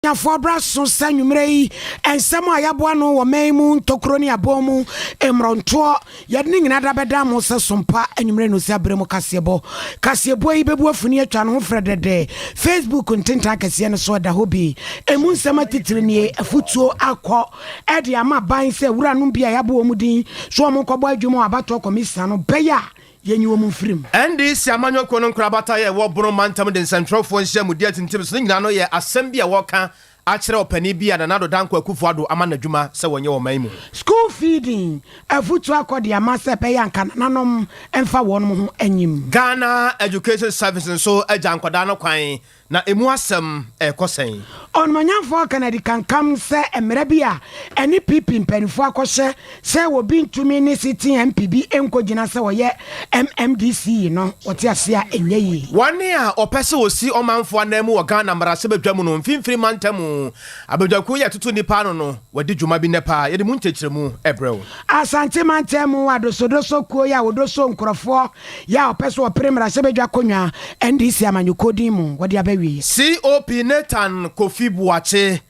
Abusuafoɔ bra so sɛ anwummerɛ yi nsɛm a yɛaboa ano wɔ man mu ntokuro ne abɔn mu mmorɔntoɔ yɛde ne nyinaa da bɛda mo sɛ sompa anwummerɛ no sɛ aberɛ mu kaseɛbɔ kaseɛbɔ yi bɛbu afuni atwa ne ho frɛdɛdɛ facebook ntentan akɛseɛ no so ɛda hɔ bi ɛmu nsɛm atitire nie afutuo akɔ ɛde ama ban sɛ wuranom bi a yɛabɔ wɔn din so wɔn nkɔbɔ adwuma wɔ abatoɔ kɔmisa no bɛyɛ a Yenyi wɔn mfiri mu. NDC amanyɔkuo no nkorabata a ɛwɔ Bono mantam de nsɛnkyerɛwfoɔ nhyiamudie atintim so ne nyinaa no yɛ asɛm bi a wɔreka akyerɛ ɔpanin bi a Nana Addo Dankwa Akufo Addo ama no adwuma sɛ wɔnyɛ wɔ ɔman mu. School feeding afutuo akɔ de ama sɛ ɛbɛyɛ a nka nananom mfa wɔnom ho nyim. Ghana Education Service nso agya nkwadaa no kwan Na emu asɛm rekɔ sɛn? Ɔnumanyamfoɔ Kennedy kankam sɛ mmara bi a ɛne PP mpaninfoɔ akɔhyɛ sɛ obi ntumi ne sitting MP bi nkɔgyina sɛ ɔyɛ MMDC yi no wɔte aseɛ a ɛnyɛ yie. Wɔn a wɔpɛ sɛ wɔsi ɔmanfoɔ ananmu wɔ Ghana mmarahyɛbadwam no mfimfini mantamu abadwakuo yi a ɛtoto nnipa ano no wɔadi dwuma bi nnɛ paa. Yɛde mu nkyɛkyerɛmu rebrɛ wo. Asante mantamu adosodoso kuo yi a wɔdoso nkorɔfoɔ Yɛ a ɔpɛ so ɔpere mmarahyɛbadwa konwa NDC amanyɔkuo din mu wɔde aba awieɛ. COP Nathan Kofi Boakye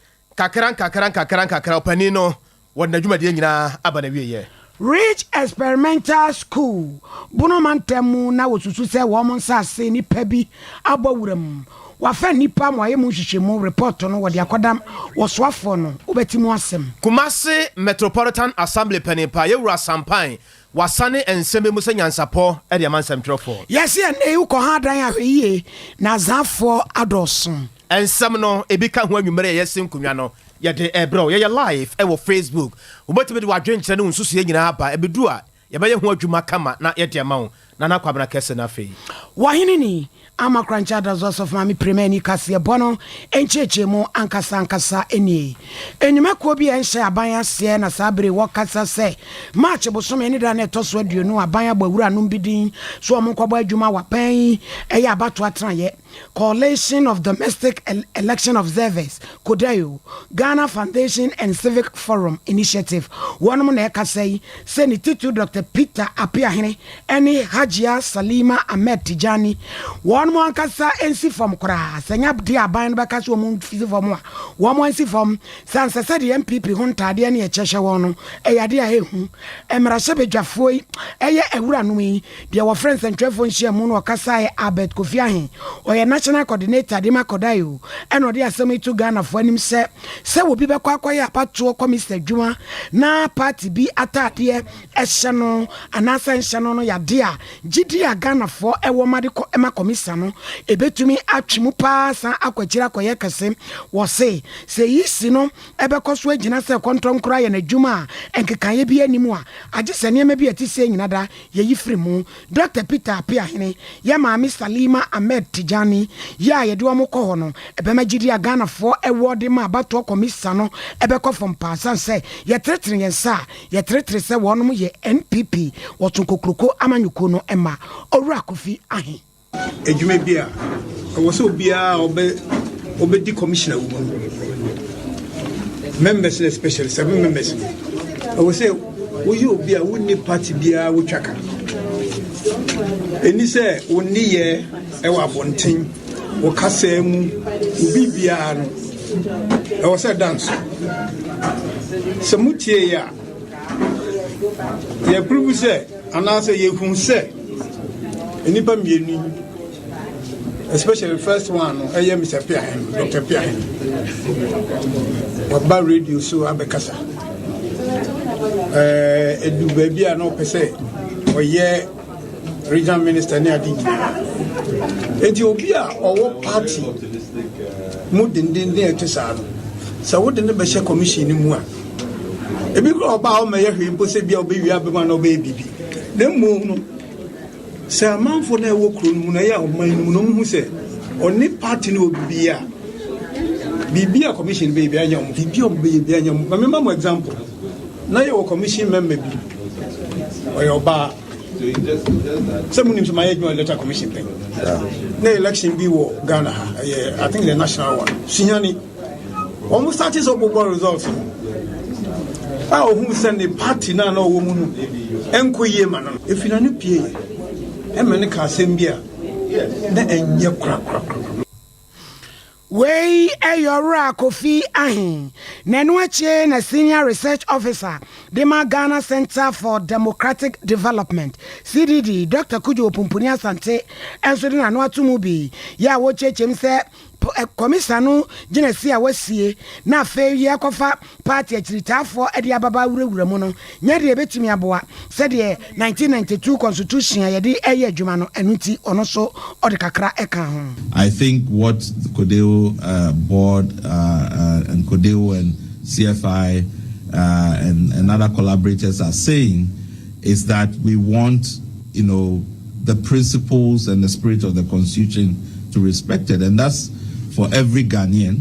Nkakra nkakra nkakra nkakra ɔpanin no wɔde n'adwumadie nyinaa aba n'awieɛ. Ridge Experimental School, Bono mantam mu na wɔsusu sɛ wɔn nsase nnipa bi abɔ wura mu. Wɔafa nnipa ma wɔayɛ mu nhwehwɛmu, repɔɔto no wɔde akɔda wɔsoafoɔ no, wobɛte mu asɛm. Kumasi Metropolitan Assembly Panin Pa Yewura Asampae Wɔasane nsɛm bi mu sɛ nyansapɔ de ama nsɛmtwerɛfoɔ. Yɛse ɛnnɛ yi wokɔ ha adan ahwɛyie na azafoɔ adɔɔso. Nsɛm no ebi ka ho anwummere a ɛyɛ se nkonnwa no yɛde rebrɛ wo. Yɛyɛ live wɔ Facebook. Wobɛtumi de w'adwenkyerɛ ne wo nsusuiɛ nyinaa aba. Ɛbɛdu a yɛbɛyɛ ho adwuma kama na yɛde ama wo. Nana Kwabena Kɛse no afei. W'ahenni ni. Ama Korankye Adaso Asɔfo Maame Premaani kaseɛbɔ no nkyerɛkyerɛmu ankasa ankasa nie. Nnwuma kuo bi a ɛnhyɛ aban aseɛ na saa bere wɔ kasa sɛ March bosome ne da no a ɛtɔ so aduonu aban abɔ awura nom bi din so wɔn nkɔbɔ adwuma wɔ aban yi ɛyɛ abatoɔ atenaeɛ Coalition of Domestic Election Observers, CODAEO, Ghana Foundation and Civic Forum Initiative wɔnom na ɛkasa yi sɛ ne titiriw Dɔkta Peter Apeahene ɛne Hajia Salima Ahmed Tijani, wɔn ankasa nsi fam koraa, sɛ ɛnyɛ deɛ aban no bɛka sɛ wɔn nsi fam a, wɔn ansi fam, sɛ ansɛ sɛ deɛ NPP ho ntaadeɛ ne ɛkyɛ hyɛ wɔn no, ɛyɛ adeɛ a ɛhu. Mmarahyɛbadwafoɔ yi yɛ awuranom yi deɛ wɔfrɛ nsɛntwerɛfoɔ nhyiamu no ɔkasaeɛ Albert Kofi Ahe, ɔyɛ National Coordinator de ma Kodayo, ɛna ɔde asɛm yi to Ghanafoɔ anim sɛ, sɛ obi bɛkɔ akɔyɛ abatoɔ kɔmista adwuma na party bi ataadeɛ ɛhyɛ no anaasɛ ɛnhyɛ no no yɛ adeɛ a gyidie a Ghanafoɔ wɔ ma de kɔ ma kɔmisa no, ɛbɛtumi atwe mu pa ara san akɔ akyiri akɔyɛ kɛse. Wɔse, sɛ eyi si no ɛbɛkɔ so agyina sɛ kɔntɔnkorɔ ayɛ no adwuma a nkekaeɛ biara nni mu a agye sɛ nneɛma bi a ɛte sei nyina da yɛyi firi mu. Dɔkta Peter Apeahene yɛ maame Salima Ahmed Tijani yi a yɛde wɔn kɔ hɔ no, ɛbɛma gyidie a Ghanafoɔ wɔ de ma abatoɔ kɔmisa no bɛkɔ fam pa ara. Ɛsiane sɛ yɛtenetene yɛn nsa a Yɛteretee sɛ wɔnom yɛ NPP Wɔtso Kokroko amanyɔkuo no mma. Owura Kofi Ahe. Adwuma bi a ɛwɔ sɛ obiara a ɔbɛ ɔbɛdi commissioner wɔ mu members no especially seven members no ɛwɔ sɛ woyɛ obi a wonni party biara wotwa ka ɛni sɛ wonni yɛ ɛwɔ abɔnten Wɔ kasaa mu, wo biribiara no, ɛwɔ sɛ ɛda nso. Sɛ motie yɛ a, yɛpiribu sɛ anaasɛ yɛhu sɛ nnipa mmienu especially the first one no ɛyɛ mr piahen dr piahen waba radio so abɛkasa ɛdu baabi a na ɔpɛ sɛ ɔyɛ regional minister ne ade nyinaa enti obi a ɔwɔ party mu dendenden ɛte saa no sɛ wode ne bɛhyɛ commission no mu a ebi kora ɔbaa ɔma yɛ hwee mpo sɛ bia ɔbɛwie abɛma na ɔbɛyɛ biribi na mmom no sɛ amanfoɔ no ɛwɔ kuro no mu na ɛyɛ ɔman no mu na ɔmuhu sɛ ɔne party no wɔ biribi a biribi a commission bɛyɛ bi anyɛ ɔmo biribi a ɔmo bɛyɛ bi anyɛ ɔmo ma mema mo example na yɛwɔ commission member bi ɔyɛ ɔbaa sɛ monim sɛ mayɛ adwuma electoral commission pɛ na election bi wɔ ghana ha ɛyɛ i think the national one suhane wɔn starte sɛ ɔbobɔ results a ɔhu sɛ ne party no a na ɔwɔ mu no ɛnkɔ yie ma no no ɛfiri na no pie ɛma ne ka asɛm bi a na ɛnyɛ korakorakora Wei yɛ Ɔwura Kofi Ahe na ɛno akyi na Senior Research Officer de ma Ghana Centre for Democratic Development, CDD, Dɔkta Kudjo Opumpuni Asante nso de n'ano ato mu bi yɛ a wɔrekyerɛkyerɛ mu sɛ Kɔmisa no gyinasie a wɔasie na afei yɛrekɔfa Party akyiritaafoɔ de ababaa wurawura mu no nyɛ deɛ ɛbɛtumi aboa sɛdeɛ 1992 constitution a yɛde reyɛ adwuma no, ɛno nti ɔno nso ɔde kakra kaa ho. I think what the Codeo board and Codeo and CFI and other collaborators are saying is that we want you know the principles and the spirit of the constitution to respected and that's for every Ghanaian.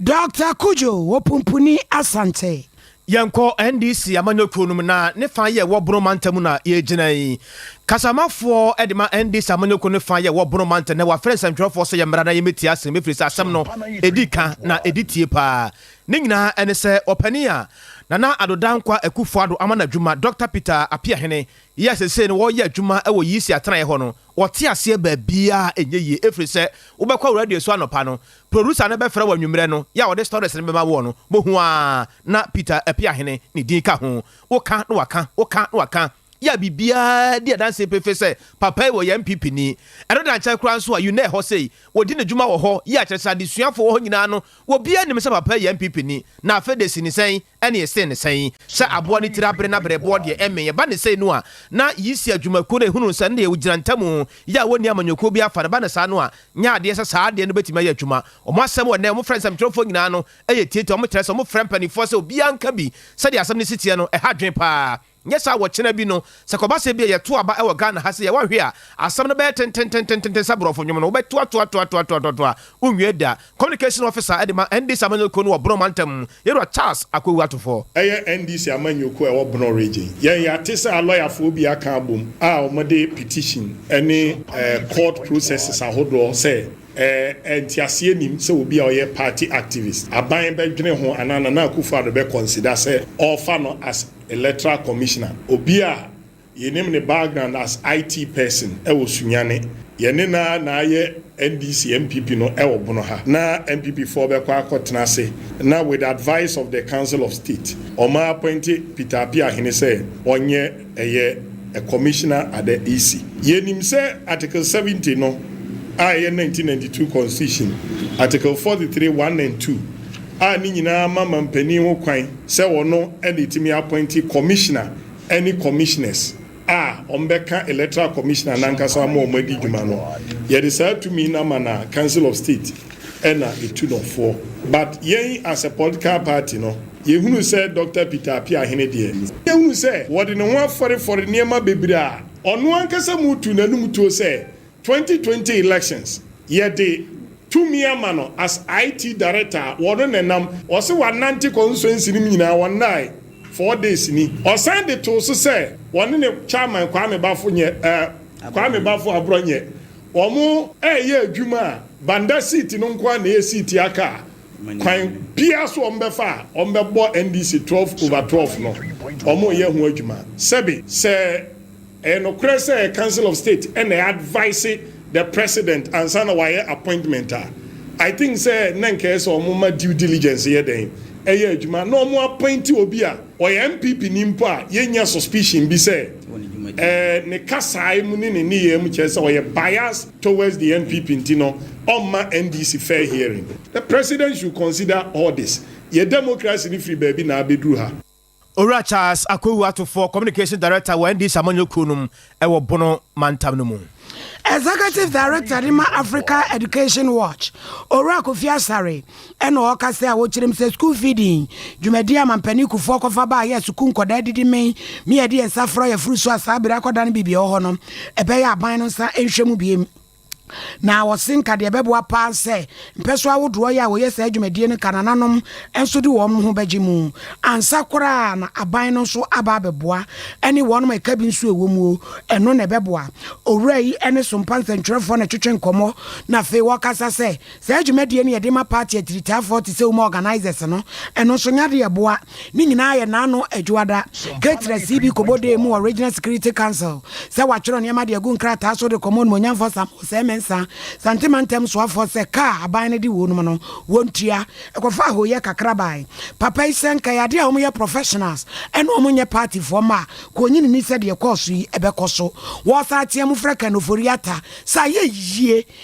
Dɔkta Cudjoe wɔ Pumpuni, Asante. Yɛnkɔ NDC amanyɔkuo no mu na ne fa yɛ wɔ Bono mantam mu na yɛgyina yi. Kasamafoɔ de ma NDC amanyɔkuo no fa yɛ wɔ Bono mantam na wɔafrɛ nsɛntwerɛfoɔ sɛ yɛmmra na yɛmmɛtie asɛm ɛfiri sɛ asɛm no ɛdi ka na ɛdi tie paa. Ne nyinaa ɛne sɛ ɔpanin a Nana Addo Dankwa Akufo-Addo ama no adwuma Dɔkta Peter Apeahene yɛ a seesei no wɔreyɛ adwuma wɔ Yisi atenaeɛ hɔ no Wɔte aseɛ baabiara a ɛnyɛ yie ɛfiri sɛ wobɛkɔ radio so anɔpa no, producer no bɛfrɛ wo anwummerɛ no, yɛ a ɔde stories no bɛma woɔ no, bohu ara na Peter Apiahene ne din ka ho. Woka na waka, woka na waka, yɛ a biribiara di adanseɛ pefee sɛ papa yi ɔyɛ NPP ni. Ɛno da nkyɛn koraa nso a Unne wɔ hɔ sei, wɔdi ne dwuma wɔ hɔ, yɛ a kyerɛ sɛ adesuafoɔ wɔ hɔ nyinaa no, obiara nim sɛ papa yi yɛ NPP ni. Na afei de, si ne sɛn? Ɛne ɛsee no sɛn? Sɛ aboa no tiri abere na berɛboɔ deɛ ɛmmee. Ɛba no sei no a, na Yisia dwumakuo no ɛhunu sɛ ɛnneɛ ɔgyina ntamu yɛ a wɔnni amanyɔkuo biara fa no. Ɛba no saa no a, nyɛ adeɛ sɛ saa adeɛ no bɛtumi ayɛ adwuma. Wɔn asɛm wɔ nnɛ, wɔfrɛ nsɛmtwerɛfoɔ nyinaa no yɛ tietie. Wɔkyerɛ sɛ wɔfrɛ mpanimfoɔ sɛ obiara nka bi. Sɛdeɛ asɛm no si teɛ no, ɛha adwene pa ara. Nyɛ saa wɔ kyena bi no sɛ kɔba sɛ bia yɛto aba wɔ Ghana ha sɛ yɛ wanhwɛ a asɛm no bɛyɛ tententententen sɛ brɔfo nwom no wobɛtoatoatoatoatoatoa wonwie da. Communication Officer de ma NDC amanyɔkuo no wɔ Bono mantam Yɛwura Charles Akowu Atufo. Ɛyɛ NDC amanyɔkuo a ɛwɔ Bono Region. Yɛn yɛate sɛ alɔyafoɔ bi aka abom a wɔde petition ne court processes ahodoɔ sɛ ɛɛ nteaseɛ nnim sɛ obi a ɔyɛ party activist aban bɛdwene ho anaa Nana Akufo Addo bɛ consider sɛ ɔrefa no as Electoral Commissioner, obi a yɛnim ne background as IT person wɔ Sunyani. Yɛne no ara na ayɛ NDC NPP no wɔ Bono ha. Na NPP foɔ bɛkɔ akɔtena ase na with advice of the Council of State, wɔn appointe Peter Apiahene sɛ ɔnyɛ ɛyɛ a Commissioner at the EC. Yɛnim sɛ Article 70 no a ɛyɛ 1992 Constitution, Article 43, one and two, a ne nyinaa ma mampanin ho kwan, sɛ ɔno na ɛtumi appointi commissioner ne commissioners a wɔbɛka electoral commissioner no ankasa ma wɔadi dwuma no, yɛde saa tumi no ama no a council of state na ɛtu no foɔ. But yɛn as a political party no, yɛhunu sɛ Doctor Peter Appiah hene deɛ, yɛhunu sɛ wɔde ne ho afɔrefɔre nneɛma bebree a ɔno ankasa mu tu n'anum tuo sɛ Twenty twenty elections yɛde tumi ama no as IT director a wɔno na ɛnam. Ɔse wanante consuency no mu nyinaa wɔnnae four days ni. Ɔsan de too so sɛ wɔne ne chairman Kwame Bafo nyɛ eh Kwame Bafo Aborɔ nyɛ wɔn ɛɛyɛ adwuma a Banda seat no nko ara na ɛyɛ seat aka a kwan biara so wɔn bɛfa a wɔn bɛbɔ NDC twelve over twelve no wɔn reyɛ ho adwuma sɛbe sɛ Ɛyɛ nokorɛ sɛ council of state na advice the president ansa na wayɛ appointment a, I think sɛ na nka ɛyɛ sɛ wɔn ma due diligence yɛ dɛn? Ɛyɛ adwuma na wɔn appoint obi a ɔyɛ NPP ni mpo a yɛnnya suspicion bi sɛ ɛɛ ne kasae mu ne ne nneyɛɛ mu kyerɛ sɛ ɔyɛ bias towards the NPP nti no ɔmma NDC fair hearing. The president should consider all this. Yɛ democracy no firi baabi na abɛduru ha? Owura Charles Akwawu Atufoɔ, Communications Director wɔ NDC amanyɔkuo no mu wɔ Bono mantam no mu. Executive Director de ma Africa Education Watch, Owura Kofi Asare na ɔrekasa a ɔkyerɛm sɛ sukuu feeding dwumadie a Mampanin Kufuor kɔfa baeɛ a sukuu nkwadaa didi mee mee a yɛde yɛn nsa fra yɛforo so a saa bere akɔdane biribi a ɛwɔ hɔ no ɛbɛyɛ aban no nsa nhwɛ mu bio. Na ɔse nka deɛ ɛbɛboa paa nsɛ mpɛso ahodoɔ yi a wɔyɛ saa dwumadie no ka nananom nso de wɔn ho bɛgye mu ansa koraa na aban no nso aba abɛboa ɛne wɔn ma ɛka bi nso ɛwɔ mu o ɛno na ɛbɛboa owura yi ɛne sompa nsɛntwerɛfoɔ na ɛtwetwe nkɔmmɔ na afei wɔkasa sɛ Saa dwumadie no yɛde ma party atiritaafoɔ te sɛ wo mu organisers no, ɛno nso nyɛ adeɛ ɛboa, ne nyinaa yɛ naano adwuada. Ketra CB kɔbɔ dee mu wɔ Regional Security Council sɛ watwerɛ nneɛma de agu nkrataa so de kɔma Onimuonyamfoɔ Sam Osei Mensah, Santee Mantam soafoɔ sɛ kaa aban no de wuo nom no, wɔntua. Ɛkɔfaa hooyɛ kakra bae. Papa yi sɛ nka ɛyɛ adeɛ a wɔyɛ professionals ɛne wɔn nyɛ party foɔ mma a, ka ɔnyi n'ani sɛ deɛ ɛkɔɔso yi ɛbɛkɔ so. Wɔɔsan team frɛ Ken Ofori-Atta sɛ ayɛ yie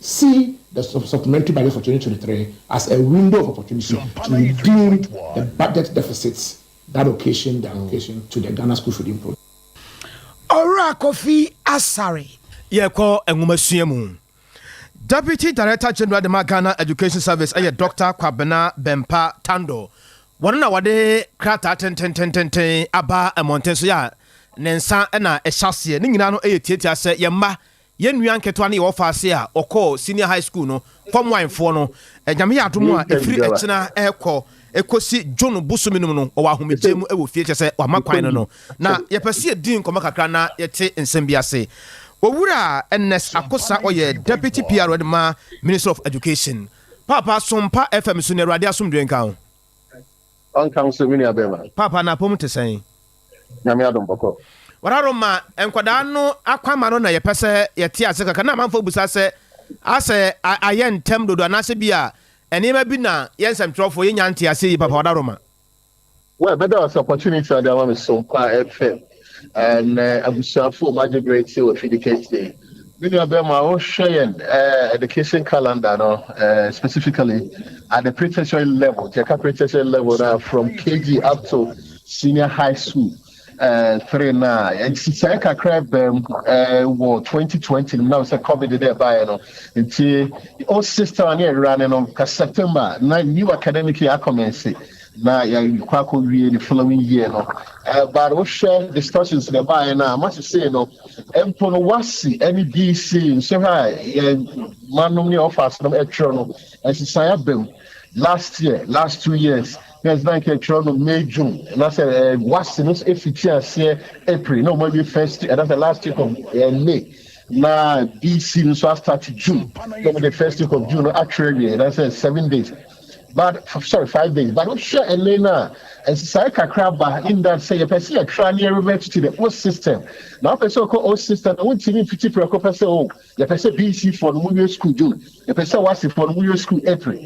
See the supplementary budget for twenty twenty three as a window of opportunity to redeem the budget deficits that occasioned the allocation to the Ghana School Feeding Project. Owura Kofi Asare. Yɛkɔ nwomasua mu. Deputy Director General de ma Ghana Education Service ɛyɛ Doctor Kwabena Bempa Tando. Wɔn na wɔde krataa tententententen aba mmɔnten so yɛ a ne nsa na ɛhyɛ aseɛ. Ne nyinaa no yɛ tiatia sɛ yɛn mma Yɛn nua nketewa no yɛ ɔfaase a ɔkɔɔ senior high school no kɔmoaenfoɔ no. Nyame yɛ adom a ɛfiri ɛkyena rekɔ ɛkɔsi June bosome no mu no ɔwɔ ahomegyeɛ mu wɔ fie kyɛsɛ wama kwan no no na yɛpɛ sɛ yɛdi nkɔmɔ kakra na yɛte nsɛm bi ase. Owura Ernest Akosa ɔyɛ Deputy PRO de ma Ministry of Education. Paapa, som pa FM so na Awurade asomdwoe nka wo. Ɔnka wo sɛ me nua bɛɛma. Paapa no apɔmu te sɛn? Nyame adom bɔkɔ. Wararo ma nkwadaa no akwama no na yɛpɛ sɛ yɛte ase kakra. Na amanfoɔ bisa sɛ asɛ ayɛ ntɛm dodo anaasɛ bi a nneɛma bi na yɛ nsɛmtwerɛfoɔ yɛnnya nte aseɛ yie. Paapa Wararo ma. Well, mɛda wo ase opportunity a wode ama me so. Mpaa ɛfɛ. Ɛnnɛ, abusuafo, moagye bere atie wɔ Fidi Kente. Me nua bɛrima, wohwɛ yɛn eh, education calendar no, eh, specifically at the pre-tertiary level, nti ɛka pre-tertiary level na from KG up to senior high school eh, three na nsisae kakra bɛm eh, wɔ 2020 no na sɛ covid dɛ ɛbaeɛ no nti o system ne ɛwera ne no ka September na new academic year akɔmɛnse na yɛakɔ akɔwie the following year no uh, but wohwɛ discussions na ɛbaeɛ no a masesei no mpo no wasi ne dc nso ha yɛn manom ne ɔfas nom ɛtwerɛ no ɛsesan aba mu last year last two years na ɛsena nka ɛtwerɛ no may june anasɛ eh, wasi no ɛfiti aseɛ april na ɔmawie first anasɛ last week of eh, may na dc nso astart june na ɔmde first week of june no atwerɛ wie anasɛ seven days But sorry five days but wohwɛ ɛnɛ no a nsesaeɛ kakra ba in that sɛ yɛpɛ sɛ yɛtra ne yɛrevert to the old system na wopɛ sɛ wokɔ old system na wontumi mfiti prɛko pɛ sɛ o yɛpɛ sɛ bc foɔ no mowie school june yɛpɛ sɛ wasefoɔ no mowie school april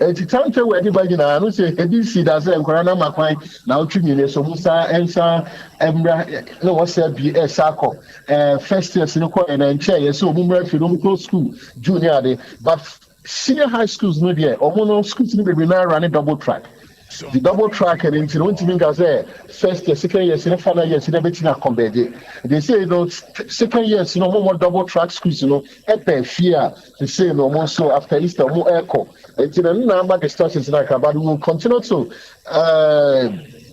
nti time table ɛde ba nyinaa no sɛ bc da sɛ nkwadaa no ama kwan na wotwe mmienu so mo saa ɛnsa mmra na wɔsɛ bi ɛsa kɔ ɛɛ first years no kɔ ɛna nkyɛn yɛ sɛ wɔn mmra afie no wɔn kɔ school june ne ade but Senior high schools no deɛ ɔmo no schools no bebree naa running double track nti double track no nti no wontumi nka sɛ first year second years ne final years no ɛbɛtumi akɔnbɛɛgye nti sei no second years no ɔmo ɔmo double track schools no ɛba afie a sei no ɔmo nso after Easter ɔmo ɛkɔ nti no ɛno na ama distractions no akaba no will continue to uh,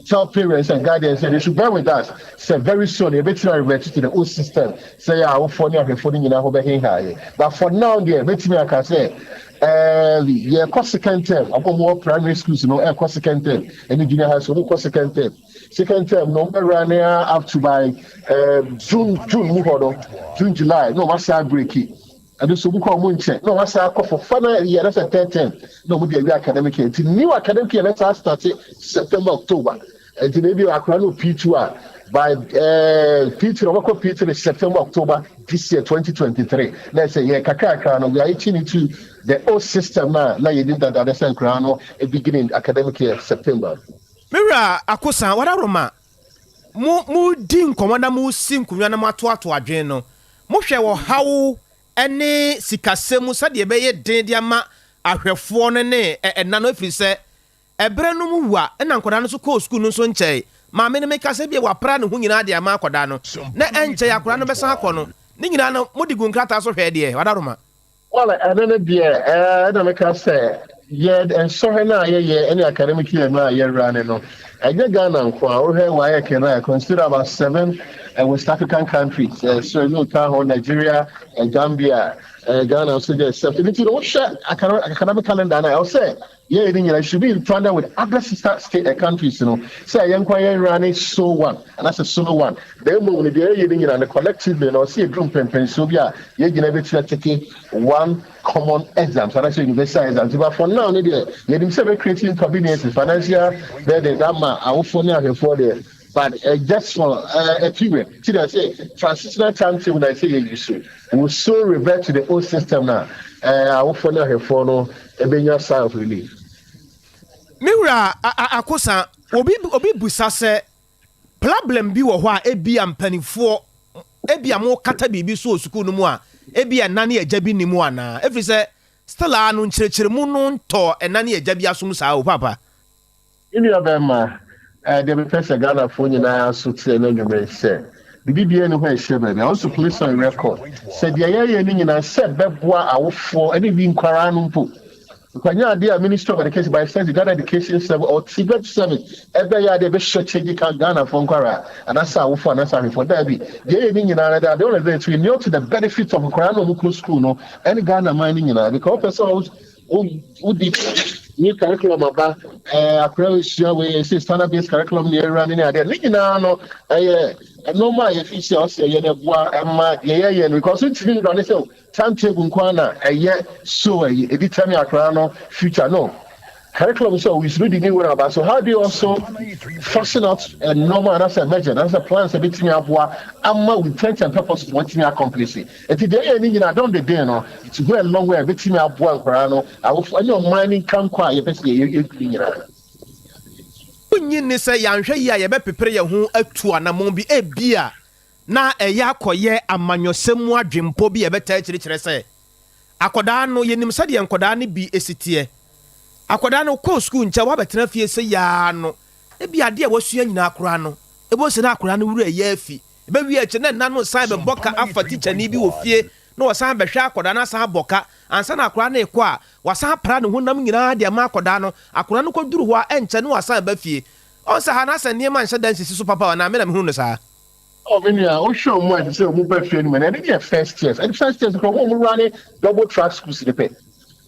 tell parents and guide them say they should bear with us sɛ very soon yɛbɛtumi a revert to the old system sɛ yɛ awofoɔ ne ahwɛfoɔ no nyinaa ho bɛheha yɛ but for now deɛ mɛtumi aka sɛ um, yɛkɔ second term ɔmo ɔmo wɔ primary schools no ɛkɔ second term ɛne junior high school ɔmo kɔ second term second term no ɔmɛwura ne a up to by um, june june mu hɔ no june july na ɔmo asan break it Ɛno nso obi kɔ a wɔnkyɛ na wɔasan akɔ for fa na ɛyɛ na sɛ tɛɛtɛn na wɔde awie academic year nti new academic year na ɛsan starte September October nti na ebi akora no P two a by ɛɛ P three ɔbɛkɔ P three September October this year twenty twenty three na ɛsɛ yɛ kakrakra no we are itching into the old system na na yɛ nim dada dɛ sɛ nkora no beginning academic year September. Me wura Akosa, wada roma mo moredi nkɔmmɔ na moresi nkonnwa na moatoatoa adwene no, mohwɛ ɔhaw ne sikasɛm mu sɛdeɛ ɛbɛyɛ den de ama ahwɛfoɔ no ne ɛna no, ɛfiri sɛ ɛberɛ no mu wua, ɛna nkwadaa no nso kɔɔ sukuu no nso nkyɛe. Maame no, meka sɛ, ebia wɔapra ne ho nyinaa de ama akwadaa no, na ɛnkyɛe akwadaa no bɛsan akɔ no. Ne nyinaa no, mode guu nkrataa so hwɛɛ deɛ? Wadaroma. Well, ɛno no deɛ ɛɛ na meka sɛ yɛ nsɔhwɛ no a yɛyɛ ɛne academic year no a yɛwura ne no ɛnyɛ Ghana nko a wohwɛ WAEC no a consider about seven eh, West African countries eh, so ɛno ka ho Nigeria eh, Gambia eh, Ghana nso deɛ sɛ ɛno nti no wohwɛ academic calendar no a ɛwɔ sɛ Yɛyɛ ne nyinaa should be in tandem with other sister state and countries no sɛ yɛnko a yɛn wera ne so one anaasɛ solo one na mmom no deɛ yɛyɛ ne nyinaa no collectively no ɔsɛ yɛduru mpɛnpɛnsoɔ bi a yɛn nyinaa bɛtumi atake one common exams anaasɛ universal exams but for now no deɛ yɛnim sɛ bɛcreate inconveniences financial burden ama awofoɔ ne ahwɛfoɔ deɛ But uh, just for uh, a period, see that say transitional timetable that say you use so will so revert to the old system now. Uh, I will follow her for no a benya sign of relief. Me wura akosa obi obi busa sɛ problem bi wɔ hɔ a ebi a mpanimfoɔ ebi a mo kata biribi so wɔ sukuu no mu a ebi a nna ne agya bi nim anaa efiri sɛ still a no nkyerɛkyerɛmu no ntɔ ɛna ne agya bi asom saa o papa. Me nua bɛɛma, ɛɛ deɛ mepɛ sɛ Ghana foɔ nyinaa nso teɛ na nwuma yi sɛ, biribi biara ni hɔ a ɛhyɛ baabi a wo nso place on record sɛ deɛ yɛyɛ no nyinaa sɛ bɛboa awofoɔ ɛne bi nkwaraa no mpo nkwanya adeɛ a Ministry of Education by extension Ghana Education Service or TVET Service ɛbɛyɛ adeɛ ɛbɛhyɛ kyɛgye ka Ghana foɔ nkwaraa anaasɛ awofoɔ anaasɛ ahwɛfoɔ daabi deɛ yɛyɛ no nyinaa no ade ɔlɛ dɛ to inure to the benefit of nkwaraa na wɔn kɔ school no ɛne Ghana man no nyinaa because wopɛ sɛ Wo wodi new curriculum aba ɛɛ akora osua wei ɛsɛ standard based curriculum ne ɛwura ne ne adeɛ ne nyinaa no ɛyɛ nneɛma a yɛfi si a ɔsɛ ɛyɛ no ɛboa ɛma deɛ yɛyɛ no because ntumi nda ne sɛ o time table nko ara na ɛyɛ so ɛyɛ ɛdi tɛmi akora no future no curriculum sɛ o yisoro di ne wura aba so how do you also fashion out nneɛma anaasɛ measure anaasɛ plans a ɛbɛtumi aboa ama wo intent and purpose wɔtumi accomplish it Enti deɛ ɛyɛ ne nyinaa dɔn deden no, nti hɔ ɛno hɔ a ɛbɛtumi aboa nkwadaa no, awofo, ɛne ɔman no nkankɔ a yɛpɛ sɛ yɛyɛ yɛn duru nyinaa. Wonnye nni sɛ yɛanhwɛ yie a yɛbɛpepere yɛn ho atu anammɔn bi, ebia na ɛyɛ akɔyɛ amanyɔsɛm mu adwempɔ bi a ɛbɛtaa kyirikyerɛ sɛ akwadaa no, yɛnim sɛdeɛ nkwadaa no bi si teɛ, akwadaa no kɔɔ sukuu nkyɛ wabɛtena fie sɛi ara no, ebia adeɛ a wasua nyinaa koraa no, ɛbɛhu sɛ na akwadaa no werɛ yɛ afi Ebewie akyiri na ɛna no san bɛbɔ ka afa tikyani bi wɔ fie na ɔsan bɛhwɛ akwadaa no asan abɔ ka. Ansa na akwadaa no rekɔ a, wasan apra ne honam nyinaa de ama akwadaa no. Akwadaa no kɔduru hɔ a, ɛnkyɛ na wasan aba fie. Ɔn sɛ ha no asɛ nneɛma nhyɛ da nsisi so papa o, anaa me na mehu no saa? Oh me nua, wohwɛ wɔn a ɛsɛ sɛ wɔn ba fie no mu no, ɛno deɛ first years, ɛne first years no koraa wɔn a wɔn wura ne double track schools no pɛ.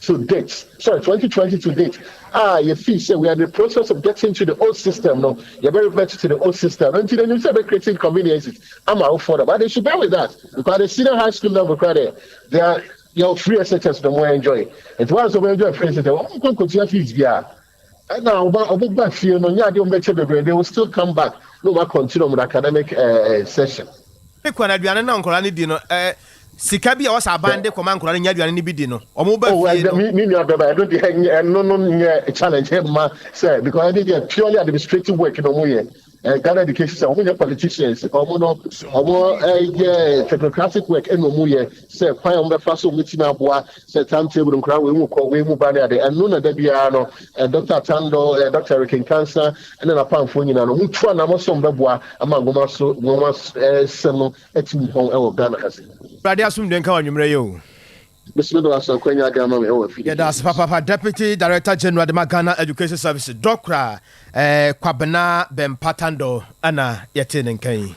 to date sorry twenty twenty to date a yɛfii sɛ we are in the process of getting to the old system no yɛbɛ revert to the old system no nti na nim sɛ ɛbɛ create inconveniences ama awofoɔ no but they should bear with us because the senior high school level koraa dɛ they are yɛwɔ free SHS no mo enjoy nti wɔn a nso wɔn enjoy free SHS wɔn nkɔ nkɔtua fees biara. Ɛna ɔba ɔbɛba fie no nyɛ adeɛ ɔmo bɛkyɛ bebree they will still come back na ɔmo akɔntine ɔmo academic eh, session. Ade kwan aduane na nkwadaa no di no eh, sika bi a wɔsɛ aban de kɔma nkwadaa no nya aduane no bi di no ɔmo ba Oh, fie ɛdɛ no. me me nua bɛba ɛno deɛ ɛnyɛ ɛno no nyɛ challenge ɛmma sɛ because ɛde deɛ purely administrative work na ɔmo yɛ Eh, Ghana education sɛ wɔn nyɛ politicians wɔn no wɔn yɛ technocratic work ɛna wɔn yɛ sɛ kwan a wɔn bɛfa so wɔn bɛtumi aboa sɛ time table nkura wɔn mu kɔ wɔn mu ba ne ade ɛno na da biara no eh, dr tando eh, dr rekenkansa ɛna n'apamfoɔ nyinaa no wɔn tu anamɔ sɛ wɔn bɛboa ama nwoma so nwoma eh, sɛm no atumi hɔn ɛwɔ ghana ha se. Awurade asomdwe nka w'anwummerɛ yɛ o. Bese me bɛba so akwanya de ama me wɔ afidi Yɛda ase papaapa Deputy Director General de ma Ghana Education Services Dɔkra eh, Kwabena Bɛmpa Tandor ɛna yɛtee ne nka yi.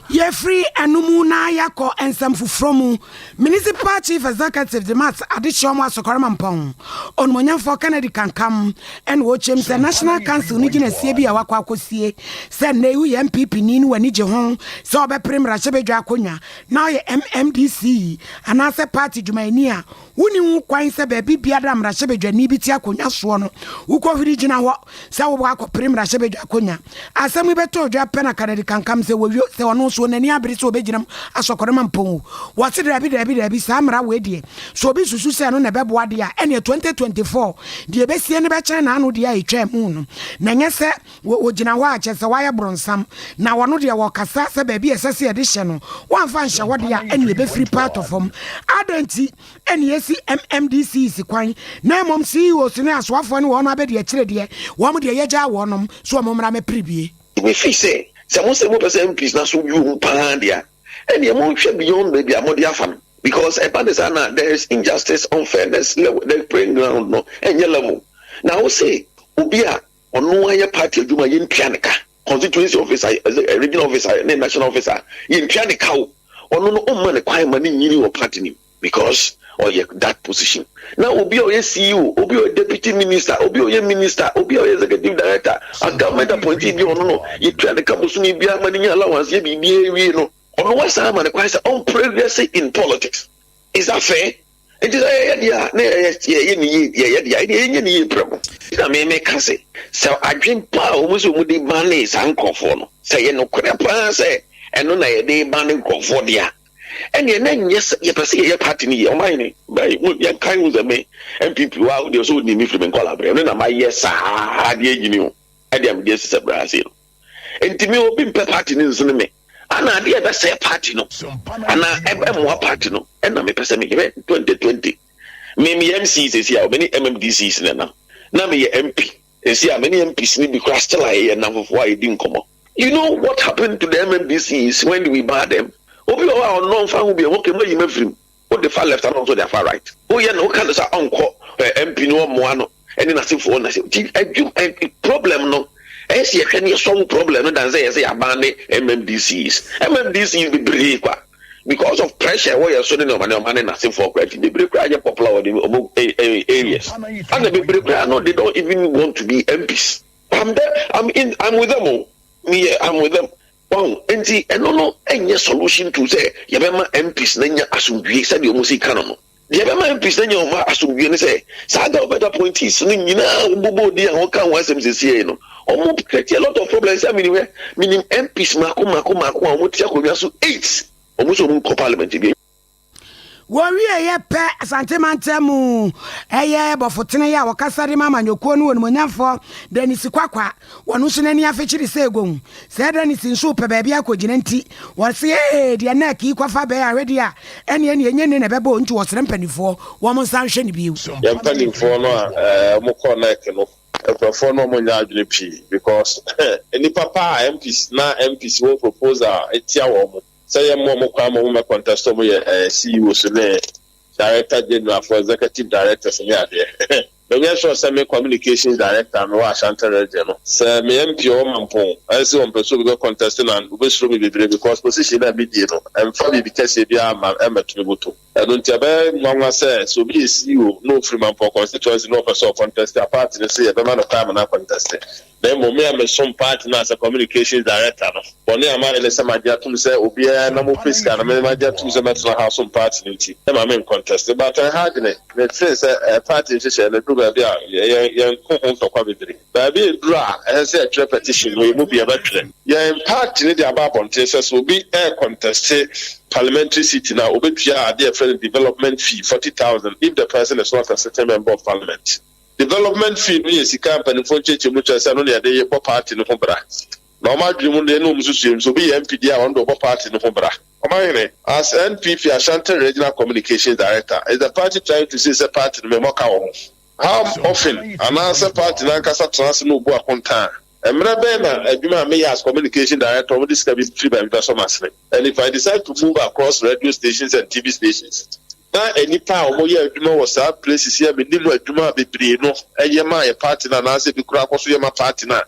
Yɛfiri ɛno mu na yɛakɔ nsɛm foforɔ mu. Municipal Chief Executive Demat Adehyeɛ Ɔmo Asɔkware Mampɔn, Onumonyamfoɔ Kennedy Kankam ɛna ɔkyɛm sɛ National Council no gyinasie bi a wakɔ akɔsie sɛ nnɛ yi woyɛ NPP ni no w'ani gye ho sɛ ɔbɛpere mmarahyɛbadwa akonnwa na ɔyɛ MMDC yi anaasɛ party dwumayɛni a, wonni ho kwan sɛ baabi biara a mmarahyɛbadwani bi te akonnwa soɔ no, wokɔhuri gyina hɔ sɛ wobɔ akɔpere mmarahyɛbadwa akonnwa. Asɛm yi bɛtɔɔ dwa pɛ na Kanadi kankam sɛ wawio, sɛ ɔno nso, n'ani abere sɛ ɔbɛgyina mu asɔkɔre ma Mpongo. Wɔse daabi, daabi, daabi, saa mmara wei deɛ, sɛ obi susu sɛ ɛno na ɛbɛboa deɛ a, ɛneɛ 2024 deɛ ɛbɛsie no bɛkyɛn n'ano deɛ a ɛtwaa mu no, na ɛnyɛ sɛ, Wɔgyina hɔ a, kyerɛ sɛ wɔayɛ bronsam, na wɔn deɛ wɔkasa sɛ baabi a ɛsɛ sɛ yɛde hyɛ no, wɔamfa anhyɛ hɔ deɛ a, ɛnneɛ ɛbɛfiri pa atɔ fam. Adɛn nti na yɛasi MMDCs kwan, na mmom CEOs ne asoafoɔ ne wɔn abɛdi akyire deɛ, wɔn deɛ yɛagyaa wɔnom, so wɔn mmra mmɛpere bie? Ɛfiri sɛ, sɛ mo sɛ mopɛ sɛ MPs no aso bio mu pa ara deɛ a, ɛnneɛ monhwɛ beyond baabi a mode afa no, because ɛba no saa no a, there is injustice, unfairness, level, the playing ground no ɛnyɛ level. Na wo se obi a. Ɔno ara yɛ party adwuma a yɛntua no ka, constituency office a, regional office a ne national office a, yɛntua no ka o. Ɔno no womma no kwan ma no nnyini wɔ party no mu because ɔyɛ that position. Na obi a ɔyɛ CEO, obi a ɔyɛ deputy minister, obi a ɔyɛ minister, obi a ɔyɛ executive director, a government appointee bi a ɔno no yɛtua no ka bosome biara ma no nya allowance yɛ biribiara wie no, ɔno woasan ama no kwan sɛ ɔmpere wiase in politics. Isa fɛ, enti sɛ yɛyɛ deɛ a na yɛyɛ ne yie, yɛyɛ deɛ a ɛdeɛ yɛnyɛ ne yie prɛko. Na me meka se, sɛ adwen pa a wɔn sɛ wɔn de banee saa nkorɔfoɔ no, sɛ ɛyɛ nokorɛ paa sɛ ɛno na yɛde rebane nkorɔfoɔ deɛ a, ɛneɛ na nyɛ sɛ yɛpɛ sɛ yɛyɛ party no yie. Ɔmanhene, bɛɛ yɛnkae ho sɛ me NPP waa, wodeɛ sɛ wonim me firi me nkwadaa berɛ, me na mayɛ saa deɛ ɛnyini o, ɛdeɛ mede asisɛ berɛ ase no. Nti me obi mpɛ party no nsene me ana adeɛ ɛbɛsɛɛ party no ana ɛmmoa party no ɛna mepɛ sɛ meyerɛ 2020 me meyɛ MC sɛsi a mene MMDCs na nam na meyɛ MP ɛsi a mene MPs no bi kora still a yɛyɛ nnamfofoɔ a yɛdi nkɔmmɔ you know what happened to the MMDCs when we bar them obi wɔ hɔ a ɔnnɔ mfa ho bi ɛhɔ kɛma yi mafirim Wode fa left ana ɔnso de afa right? Woyɛ no woka no sɛ ɔnkɔ eh, MP no ɔmmoa no ɛne n'asefoɔ na sɛ nti adwum eh, eh, problem no ɛyɛ sɛ yɛhwɛ ne yɛsɔwo problem no dan sɛ yɛsɛ yɛaban ne MMDCs MMDCs bebree kwa because of pressure ɛwɔ yɛ so ne nneɛma nneɛma ne n'asefoɔ kora nti bebree koraa nyɛ popular wɔ ne ɔmo eh, eh, areas ana bebree koraa no they don't even want to be MPs I'm there I'm in I'm with them o oh. me I'm with them Wahu? Enti ɛno no nyɛ solution to sɛ yɛbɛma MPs no anya asomdwoe sɛdeɛ wɔn si ka no no. Deɛ ɛbɛma MPs no anya wɔn asomdwoe ne sɛ saa government appointees no nyinaa a wɔbobɔɔ din a wɔka ho asɛm seesei yi no, wɔn create a lot of problems a menim hwɛ, menim MPs mmaako mmaako mmaako a wɔte akonnwa so eight, wɔn nso wɔn nkɔ parliament bio. Wɔwieeɛ pɛ, Asante mantam mu ɛyɛ bɔfotene yi a ɔkasa de ma amanyɔkuo no onimuonyamfoɔ Dennis Kwakwa, wɔn nso n'ani afe kyiri sɛ gown. Sɛ Dennis nso repɛ baabi akɔgyina nti, ɔse ee, deɛ NEC yi kɔfa bɛyɛ ahwedeɛ a, ɛneɛ neɛ ɛnyɛ nne na ɛbɛbɔ o, nti ɔsrɛ mpanifoɔ wɔn nsa nhwɛ no bio. Yɛn mpanifoɔ no a wɔn kɔɔ NEC no, nkorɔfoɔ no wɔn nyɛ adwene pii because nnipa paa a MPs na MPs wɔn proposal tia wɔn sɛ yɛmmɔ wɔn kwan ma wɔmmɛ contest a wɔyɛ ɛɛ CEOs ne Director General fo, Executive Directors ne adeɛ. Menyɛ sure sɛ me Communications Director a mewɔ Ashanti Region no, sɛ meyɛ MP ɔwɔ Mampong ɛnse ɔmpɛ sɛ obi bɛ contest no a, obesuro me bebree because position no a midie no ɛmfa biribi kɛseɛ biara mma ɛmmɛto me bɔtɔ mu. Ɛno nti ɛbɛyɛ nwanwa sɛ sɛ obi yɛ CEO na ofiri Mampɔn constituency na ɔpɛ sɛ ɔkɔntɛste a party no se yɛbɛma no kwan ma no akɔntɛste. Na mmom me a mesom party no as a communications director no, bɔne a mayɛ ne sɛ magye atom sɛ obiara na mopɛ sika no me magye atom sɛ mɛtena ha asom party no nti ɛma menkɔntɛste. But ɛha adwene me feel sɛ party nhyehyɛe no duru baabi a yɛn yɛn ko ho ntɔkwa bebree. Baabi a ɛduru a ɛsɛ sɛ yɛtwerɛ petition no, yɛn mu biara bɛtwerɛ. Yɛn party no de aba abɔnten sɛ sɛ obi reconteste parliamentary seat no a, ɔbɛtua adeɛ a yɛfrɛ no development fee, forty thousand, if the person is not a sitting member of parliament. Development fee no yɛ sika a mpanimfoɔ nkyerɛkyerɛmu kyerɛ sɛ ɛno na yɛde bɔ party no ho bra. Na wɔn adwene mu no deɛ, ɛnna wɔn nsusuiɛ mu sɛ obi yɛ MP deɛ a, ɔno deɛ ɔbɔ party no ho bra. Ɔmanhene, as NPP Ashanti Regional Communications Director, is the party trying to say sɛ party no memmɔ ka wɔ ho? Ham Ofin anaasɛ paati no ankasa tena ase na obu akontaa. Mmere bɛn na adwuma a meyɛ as communication director a wɔde sika bi firi baabi bɛsɔ m'asene? And if I decide to move across radio stations and TV stations na nnipa a wɔyɛ adwuma wɔ saa places yi a mennim adwuma a bebree no yɛ ma yɛ paati no anaasɛ ebi koraa kɔ so yɛ ma paati no a,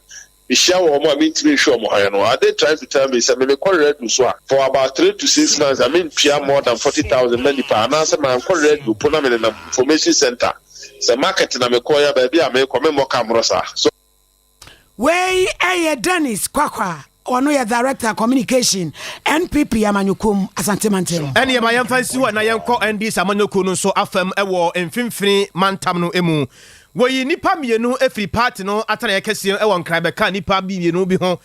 Mehyia wɔn a mentumi nhwɛ wɔn hann no, are they trying to tell me sɛ me me kɔ radio so a for about three to six months a mentua more than forty thousand ma nipa anaasɛ mankɔ radio mpo na menenam information center sɛ market na mekɔɔe a baabi a mekɔ memmɔ ka mmoro saa so Wei yɛ Dennis Kwakwa ɔno yɛ director communication npp amanyɔkuo mu asante mantam. ɛneɛ ma yɛmfa nsi hɔ na yɛnkɔ ndc amanyɔkuo no nso afam ɛwɔ mfimfini mantam no mu Wɔyii nnipa mmienu firii paati no atenaeɛ kɛseɛ mu wɔ Nkran bɛkaa nnipa bi mmienu bi ho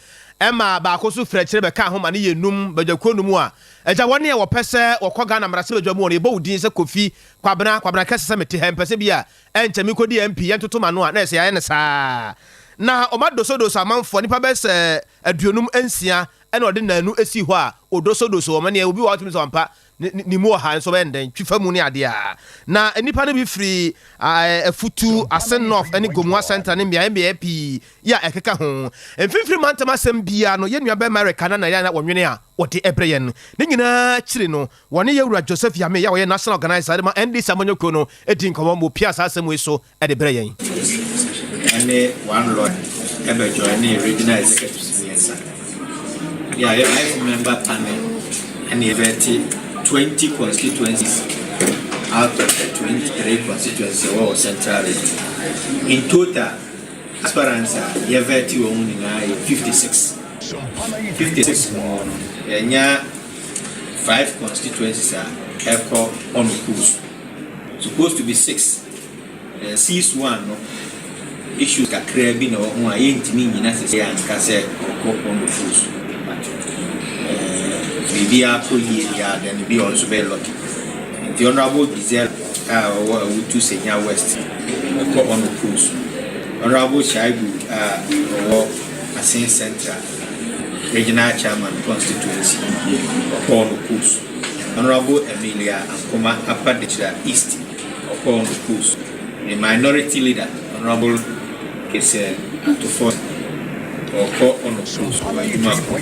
maa baako nso firii akyire bɛkaa ho ma no yɛɛ nnum, badwakuo nnum a agya wɔn ne a wɔpɛ sɛ wɔkɔ Ghana mmarahyɛbadwa mu wɔ no yɛbɔ wo din sɛ Kofi Kwabena Kwabena kɛse sɛ mete ha mpɛsɛ bi a ɛnkyɛ me kɔdi MP yɛntoto m'ano a na ɛsɛ yɛayɛ no saa na ɔma dosodoso amanfoɔ nnipa bɛyɛ sɛ aduonum nsia na ɔde naanu sii hɔ a ɔdosodoso wɔn ɛneɛ obi wɔ hɔ a wotumi sɛ wampa Ne ne mu ɔha nso bɛyɛ no dɛn? Twi fa mu ne adeɛ a. Na nnipa no bi firi Afutu, Asen North ne Gomoa Central ne mmeaɛ mmeaɛ pii yi a ɛkeka ho. Mfimfini mantam asɛm biara no, yɛn nuabarima Eric Kana na yɛ na ɔnwene a wɔde brɛ yɛn. Ne nyinaa akyiri no, wɔne yɛn wura Joseph Yamey a ɔyɛ National Organiser de ma NDC amanyɔkuo no dii nkɔmmɔ ma ɔpiaa saa asɛm wei so. de brɛ yɛn. Ɔsisi ne One Lord bɛ joinee Regional Executives mmiɛnsa de ayɛ five member panel ɛna yɛbɛte twenty constituencies out of the twenty three constituencies ɛwɔ wɔ Central Region. In total, aspirants a yɛbɛte wɔn mu nyinaa yɛ fifty six. Fifty six mu hɔ no, yɛnya five constituencies a ɛkɔ ɔno kuu so. Supposed to be six. Sis one no issues kakraa bi na ɛwɔ ho a yɛntumi nyina sɛ sɛ anka sɛ ɔkɔ pɔn no full so but biribiara kɔ yie deɛ a then bi ɔno nso bɛyɛ lucky nti honorable Giselle a ɔwɔ awutu senya west ɛkɔ ɔno full so honorable Shaibu a ɔwɔ asen central regional chairman constituency ɔkɔ ɔno full so honorable Amelia Ankoma Apa Dechira east Ɔkɔɔ nkoko so. The minority leader honourable Kese Atufon ɔkɔ ɔnoko so wɔ adwuma ko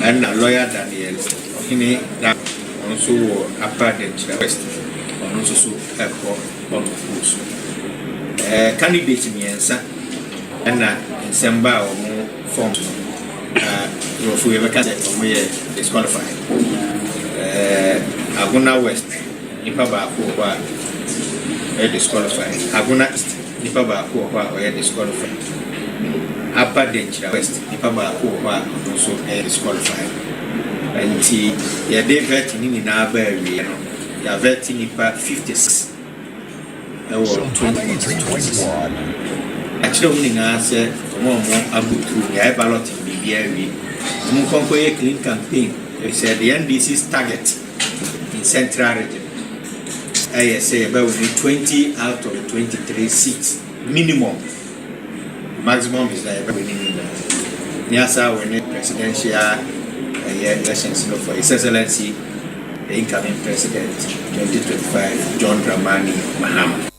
ɛna lawyer Daniel Ɔhene Dako ɔno nso wɔ Accra Denkyira West ɔno nso so ɛkɔ ɔnoko so. Ɛɛ eh, candidate mmiɛnsa ɛna nsɛm ba a wɔn form no na nkurɔfoɔ yɛbɛka sɛ wɔn yɛ disqualified. Ɛɛ eh, Agona West. Nipa baako wɔ hɔ a ɔyɛ disqualified. Agona East, nipa baako wɔ hɔ a ɔyɛ disqualified. Aba Denkyira West, nipa baako wɔ hɔ a ɔno nso yɛ disqualified. Nti yɛde vetting no nyinaa baa awieɛ no, yɛavɛte nipa 56 wɔ 20 constituencies. Akyerɛ wɔn nyinaa sɛ wɔn a wɔn ago through, yɛayɛ balloting biribiara awie. Wɔn nkɔ nkɔyɛ clean campaign, ɛfiri sɛ the NDC's target Central region ɛyɛ sɛ yɛbɛ wini twenty out of twenty three seats minimum maximum is that yɛbɛ wini ne nyinaa ne asa wini presidential ɛyɛ elections no for his excellency the incoming president twenty twenty five John Dramani Mahama.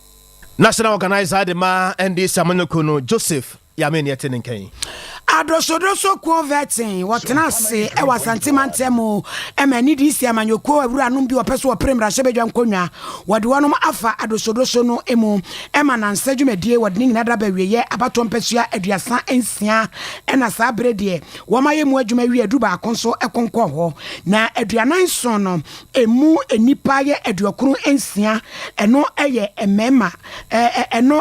National organiser de ma NDC amanyɔkuo no Joseph Ya me neɛ te ne nka yi. Adosodoso kuo vɛtee wɔtena ase wɔ Asante mantam mu ma ne DC amanyɔkuo awuranom bi wɔpɛ so wɔpere mmarahyɛbadwa nkonnwa wɔde wɔnom afa adosodoso no mu ma nansa dwumadie wɔde ne nyina da ba wieɛ abatoɔ mpasua aduasa nsia ɛna saa bere deɛ wɔma yɛ mu adwuma wie adu baako nso ɛkonkɔ hɔ na aduanan nson no ɛmu nnipa yɛ aduokron nsia ɛno ɛyɛ mmarima Ɛno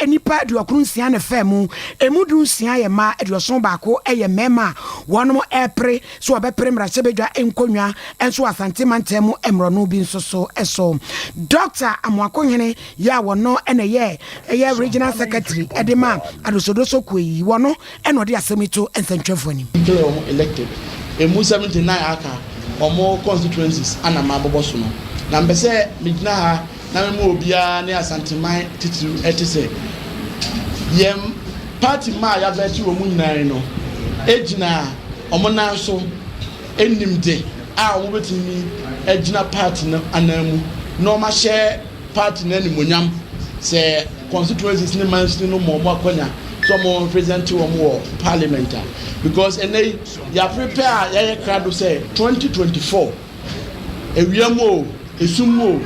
nnipa aduɔkron nsia na ɛfaa mu, ɛmu du nsia yɛ mmaa, aduɔson baako yɛ mmarima a wɔrepere sɛ wɔbɛpere mmarahyɛbadwa nkonnwa nso wɔ Asante mantam mu mmorɔno bi nso so. So Dɔkta Amoakohene yɛ a wɔno na ɛyɛ Regional Secretary de ma Adosodoso kuo yi, wɔno Ɛna ɔde asɛm yi to nsɛntwerɛfoɔ anim. Nkyɛrɛ wɔn ho elected ɛmu seventy nine aka wɔn constituencies ana mabobɔ so no na mpɛ sɛ megyina ha na me ma obiara ne Asanteman titiriw ɛte sɛ yɛn party mma a yɛavɛte wɔn nyinaa yi no ɛgyina wɔn nan so ɛnim de a wɔn bɛtumi agyina party no anan mu na wɔn ahyɛ Party no animuonyam sɛ constituencies ne mansini no ma wɔn akwanya sɛ wɔn represent wɔn wɔ parliament a because ɛnɛ yi yɛaprepɛ a yɛayɛ krado sɛ 2024 awia mu o esum mu o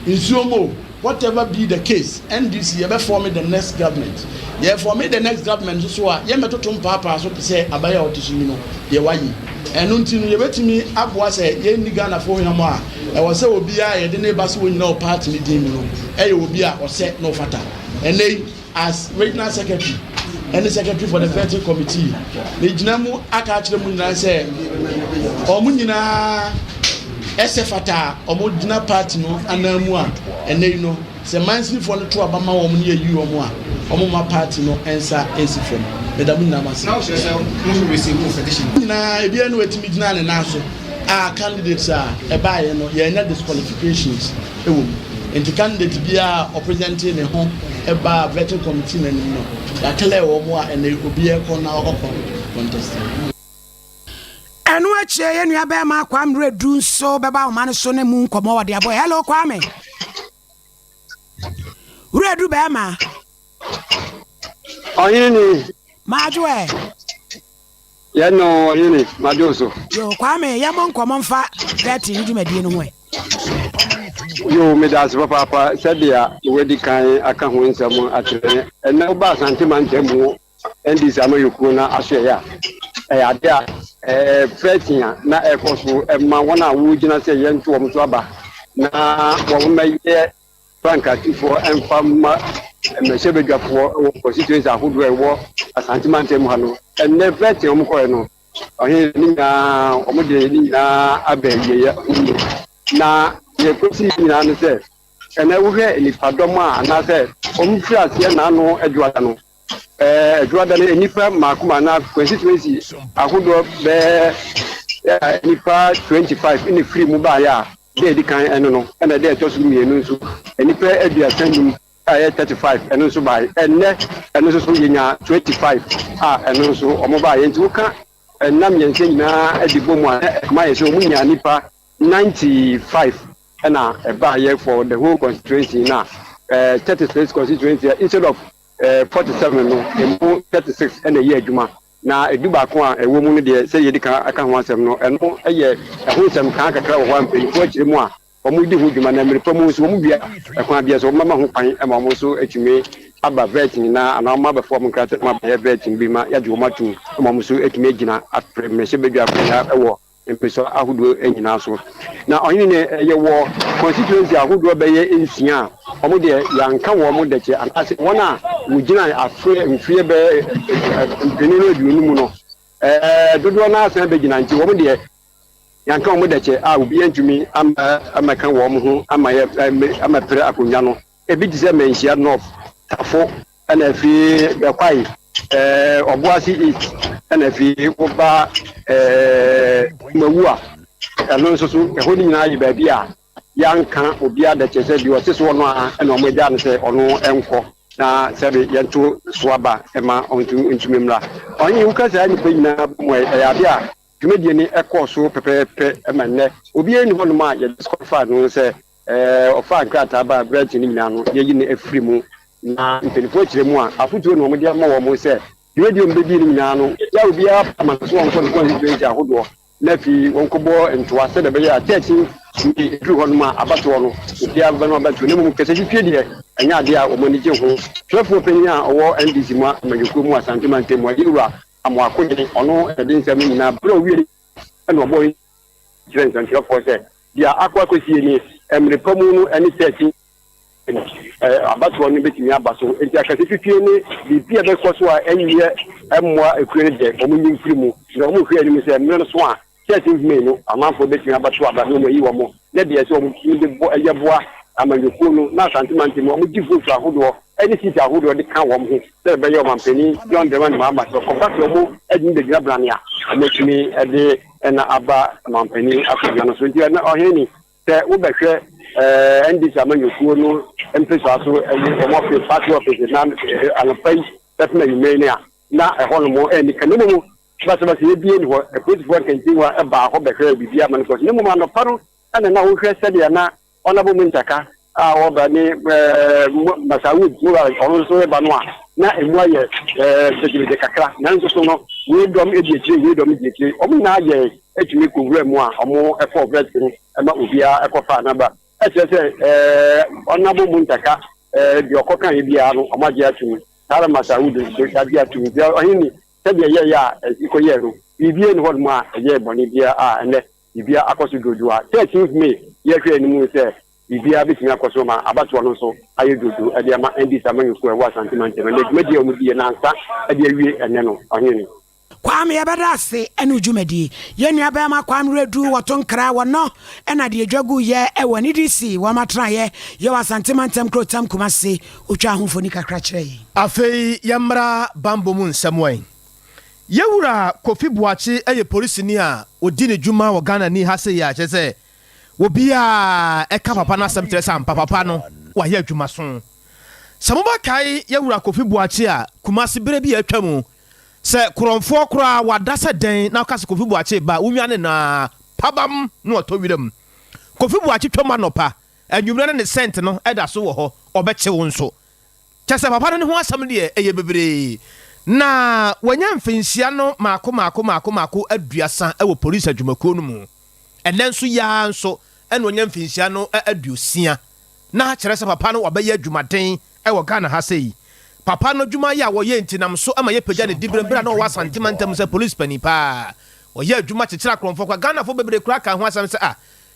nsuo mu o whatever be the case NDC yɛbɛfɔme the next government yɛfɔme the next government nso so a yɛmmɛtoto mpaapaa so te sɛ aban a ɔte so yi no deɛ wayi ɛno nti no yɛbɛtumi aboa sɛ yɛnni Ghanafoɔ hwam a Ɛwɔ sɛ obi a yɛde no ba sɛ ɔnyina wɔ party no din mu no yɛ obi a ɔsɛ na ɔfata. Ɛnnɛ yi, as Regional Secretary ne Secretary for the Vetting Committee, megyina mu aka akyerɛ mo nyinaa sɛ wɔn nyinaa sɛ fata a wɔgyina party no ananmu a ɛnnɛ yi no Sɛ mansinfoɔ no to aba ma wɔn ne yɛyi wɔn a, wɔmma party no nsa nsi fam. Meda mo nyinaa mo ase. Mo nyinaa, ebiara ni watumi gyinaa ne nan so a candidates a ɛbaeɛ no yɛanya disqualifications wɔ mu. Nti candidate biara a ɔpresentee ne ho baa vetting committee no anim no, yɛaclear wɔn a ɛnnɛ obiara kɔ na ɔkɔ contest. Ɛno akyire yɛ nua bɛrima Kwame Redu nso bɛba ahoma no so ne mu nkɔmmɔ wɔde abɔ. Hello Kwame. Redu bɛrima. Ɔhene ni. Maadwo ɛ. Yɛ no ɔhene maadwo so. Yo Kwame yɛ mo nkɔmmɔ mfa dɛte ne dwumadie no ho ɛ. Yo meda ase papaapa sɛdeɛ wadi kan aka ho nsɛm akyerɛ ɛnɛ woba asante mantam mu NDC amanyɔkuo no ahwɛeɛ a, ɛyɛ adeɛ a ɛfɛɛte a na ɛkɔ so ma wɔn a wɔgyina sɛ yɛnto wɔn so aba na wɔmmɛyɛ frankatefoɔ mfa mma mmɛhyɛbadwafoɔ wɔ constituency ahodoɔ a ɛwɔ Asante mantam ha no. Ɛnnɛ fɛɛte a wɔkɔɛ no, ɔhene ne nyinaa wɔde ne nyinaa abɛ yɛyɛ na yɛkɔsi nyinaa no sɛ ɛnɛ wohwɛ nnipadɔm a anaasɛ wɔn firi aseɛ n'ano adwuada no ɛɛ adwuada no nnipa mmaako ma na constituency ahodoɔ bɛɛ nnipa 25 ɛna firi mu baayɛ a dɛ ɛdi kan ɛno no ɛna dɛ ɛtɔ so mmienu nso nnipa aduasa num a ɛyɛ 35 ɛno nso baayɛ ɛnɛ ɛno nso so yɛnya 25 a ɛno nso wɔn baayɛ nti woka ɛnna mmiɛnsa nyinaa de bɔ mu a ɛma yɛ sɛ wɔn nya nnipa 95 ɛna ɛbaayɛ for the whole constituency na uh, 36 constituency instead of Forty seven no, emu thirty six na ɛyɛ adwuma, na dubaako a ɛwɔ mu no deɛ, sɛdeɛ yɛdi kan aka ho asɛm no, ɛno yɛ ɛho nsɛmkaa kakra wɔ hɔ a mpanyinfoɔ akyire mu a wɔdi ho dwuma, na mmere pa mu nso wɔwia a, kwan biara so wɔbɛma ho kwan ma wɔn nso atumi aba vet nyinaa anaa wɔn abɛfa wɔn nkrataa mu abɛyɛ vet no bi ma yɛagye wɔn atom ma wɔn nso atumi agyina apere mmarahyɛbadwafoɔ nyinaa wɔ mpɛsua ahodoɔ nyinaa so. Na ɔhene no yɛwɔ constituency ahodoɔ bɛyɛ nsia a wɔn deɛ yɛanka wɔn dɛkyɛ anaasɛ wɔn a wɔgyinae afe mfeɛ bɛyɛ mpenu ne aduonu mu no dodoɔ no ara san bɛgyina nti wɔn deɛ yɛanka wɔn dɛkyɛ a obiara ntumi ammɛka wɔn ho ama pere akonnwa no. Ebi te sɛ Manhyia North, Tafo, ɛna afei bɛkwae eh, Ɔboase East, ɛna afei woba eh, Mawu a ɛno nso so ɛhɔ no nyinaa yɛ baabi a yɛanka obiara da kyerɛ sɛ deɛ ɔte soɔ no a ɛna ɔmo agya no sɛ ɔno ɛnkɔ na sɛbe yɛnto so aba ɛma ɔntumi mmra. Ɔnye woka saa nnipa nyinaa bɔ mu a ɛyɛ ade a dwumadie no ɛkɔɔ so pɛpɛɛpɛ ɛma nnɛ obiara nni hɔnom a yɛ disqualify no sɛ Ɔfaa nkrataa baa aberante no nyinaa ano, yɛayi no afiri mu. Na mpanimfoɔ kyerɛ mu a, afotuo na wɔde ama wɔn sɛ, dwumadie a wɔbɛdie no nyinaa no, wɔgyaa obiara pɛ ma no sɛ wɔnkɔ ne constituency ahodoɔ, na afei wɔnkɔbɔ ntoa sɛdeɛ ɛbɛyɛ a church no tumi duru hɔ nom a, abatoɔ no, obiara bɛba no abatoɔ, na mmom kasatwitwie deɛ, ɛnyɛ adeɛ a wɔn ani gye ho. Twerɛfoɔ panin a ɔwɔ NDC mu amanyɔkuo mu Asante Mantam mu, Yeiwura Amoah Akogyene, ɔno na ɛde nsɛm no nyinaa ba. Berɛ a ɔwieeɛ no, ɛnna ɔbɔɔ. kyerɛ nsɛnkyerɛfoɔ sɛ deɛ akɔ akɔsie nie, mmere pa mu no ɛne sɛ akyi no abatoɔ no bɛtumi aba so, enti akɛse fifie ne biribi a ɛbɛkɔ so a ɛnyɛ mmoa akuo no deɛ wɔn nyi mfiri mu, na wɔn nhwɛ anim sɛ mmerɛ no so a church nhoma yi no amanfoɔ bɛtumi abɛto aba na wɔayi wɔn. ne deɛ sɛ wɔtumi de bɔ yɛ boa amanyɔkuo no na Asante mantam mu wɔgye vote ahodoɔ ne seat ahodoɔ de ka wɔn ho sɛ bɛbɛyɛ ɔmanpanin John Dramani Mahama sɛ wɔba sɛ wɔtumi bɛgyina berane a wɔtumi de na aba ɔmanpanin akonnwa no so nti ɛna ɔhene sɛ wobɛhwɛ ɛɛ NDC amanyɔkuo no mpesa so ɛne wɔn ɔfe party office na anɔpa yi bɛtena nwumere no a na ɛhɔ nom ɛnika ne mu no Basabasayɛ biara nni hɔ. Apolisifoɔ nkɛntɛnwa baa hɔ bɛhwɛɛ biribiara ma no kɔɔ so, na mmom anɔpa no na na wɔhwɛ sɛdeɛ na Honourable Muntaka a ɔreba ne Masaud Mura a ɔno nso reba no a na ɛmu ayɛ gyegyeregye kakra. Nanso so no, wei dɔm di akyire, wei dɔm di akyire. Wɔn nyinaa yɛɛ tumi kɔwuraa mu a wɔkɔɔ vɛt no ma obiara kɔfaa n'aba. Kyerɛ sɛ Honourable Muntaka deɛ ɔkɔkaeɛ biara no wɔagye atom. Saa ara Masaud nso, wɔagye atom. Ɔhene ni. Sɛdeɛ yɛyɛ a ɛkɔyɛɛ no, biribiara nni hɔnom a ɛyɛɛ bɔne biara a ɛnnɛ biribiara akɔ so dwoodwoo a 13th May yɛhwɛɛ no mu sɛ biribiara bɛtumi akɔ so ma abatoɔ no nso ayɛ dwoodwoo de ama NDC amanyɔkuo a ɛwɔ Asante mantam ɛnnɛ dwumadie a wɔdiiɛ nansa de awie ɛnnɛ no Ɔhene no Kwame yɛbɛda ase ɛne wo dwumadie. Yɛn nua bɛɛma Kwame Redu wɔto nkra wɔ nɔ ɛna deɛ dwa gu yɛ ɛwɔ NDC wɔn atenaeɛ yɛ wɔ Asante mantam kurotam Kumasi. Otwaa ho mfoni kakra kyerɛɛ yɛn. Afei yɛmmra bammɔ mu nsɛm wɛn. Yɛn wura Kofi Boakye yɛ polisini a ɔdi ne dwuma wɔ Ghana ni ha sei a ɛkyerɛ sɛ obiara a ɛka papa no asɛm kyerɛ sɛ ampa papa no wayɛ adwumaso. Sɛ mobɛkae yɛn wura Kofi Boakye a Kumasi berɛ bi a atwa mu sɛ korɔmfoɔ koraa wada sɛ dɛn na woka sɛ Kofi Boakye ba wonwane no a pabam na watɔ wiram. Kofi Boakye twam anɔpa Anwummerɛ no ne scent no da so wɔ hɔ, ɔbɛkye wo nso. Kyerɛ sɛ papa no ne ho asɛm deɛ ɛyɛ bebree. Na wanya mfinhyia no maako maako maako maako aduasa wɔ polisi adwumakuo no mu. Ɛnnɛ nso yi ara nso na wanya mfinhyia no aduosia. Na kyerɛ sɛ papa no wabɛyɛ adwumaden wɔ Ghana ha sei. Papa no adwuma yɛ a wɔyɛ nti nam so ma yɛpagya ne diberɛ berɛ a na ɔwɔ Asante mantam sɛ polisi panin paa. Ɔyɛ adwuma kyekyere akorɔmfoɔ kwa. Ghanafoɔ bebree koraa kaa ho asɛm sɛ ah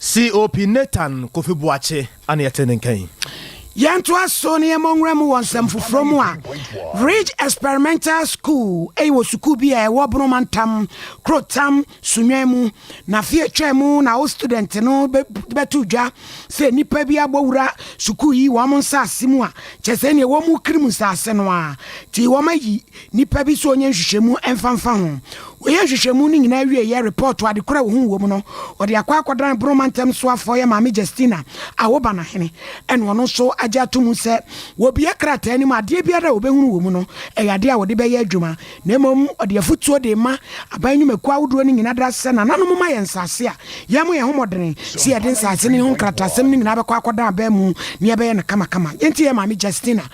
COP Nathan Kofi Boakye ana yɛte ne nka yi. Yɛntoa so na yɛmmɔ nwura mu wɔ nsɛm foforɔ mu a Ridge Experimental School ɛyɛ wɔ sukuu bi a ɛwɔ Bono Mantam, Kurotam, Sunyani mu. Na afe atwaa mu na wo student no bɛto dwa sɛ nnipa bi abɔ wura sukuu yi wɔn nsaase mu a kyerɛ sɛ ɛne ɛwɔ mu Krim nsaase no ara nti wɔayi Nnipa bi sɛ ɔnyɛ nhwehwɛmu ɛmfa mfa ho. Wɔyɛ nhwehwɛmu no nyinaa wie yɛ repɔɔto ade korɔ a wɔhu wɔ mu no, ɔde akɔ akɔdan Bono mantam soafoɔ yɛ Maame Justina Awobanahene ɛna ɔno nso agye ato mu sɛ wɔbue krataa no mu a adeɛ biara a wɔbɛhunu wɔ mu no ɛyɛ adeɛ a wɔde bɛyɛ adwuma na mmom ɔde afotuo de rema aban nnwumakuo ahodoɔ no nyinaa da sɛ nananom moma yɛn nsase a yɛmmɔ yɛn ho mmɔdene sɛ yɛde nsase no ho nkrataasɛm no nyinaa bɛkɔ akɔdan aban mu na yɛbɛyɛ no kamakama. Yɛntie yɛ Maame Justina.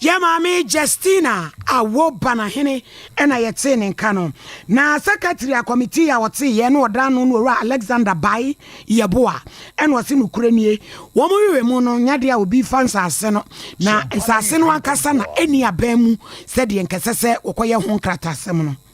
Yɛn maame Justina a wo Banahene na yɛtee ne nka no, na secretary a committee a ɔtee yɛn na ɔda ano no Owura Alexander Bae Yeboah na ɔse nokorɛ nie, wɔn werɛ mu no nyɛ adeɛ a obi fa nsase no, na nsase no ankasa na ɛnni aban mu sɛdeɛ nkɛsɛ sɛ wɔkɔyɛ ho nkratasɛm no.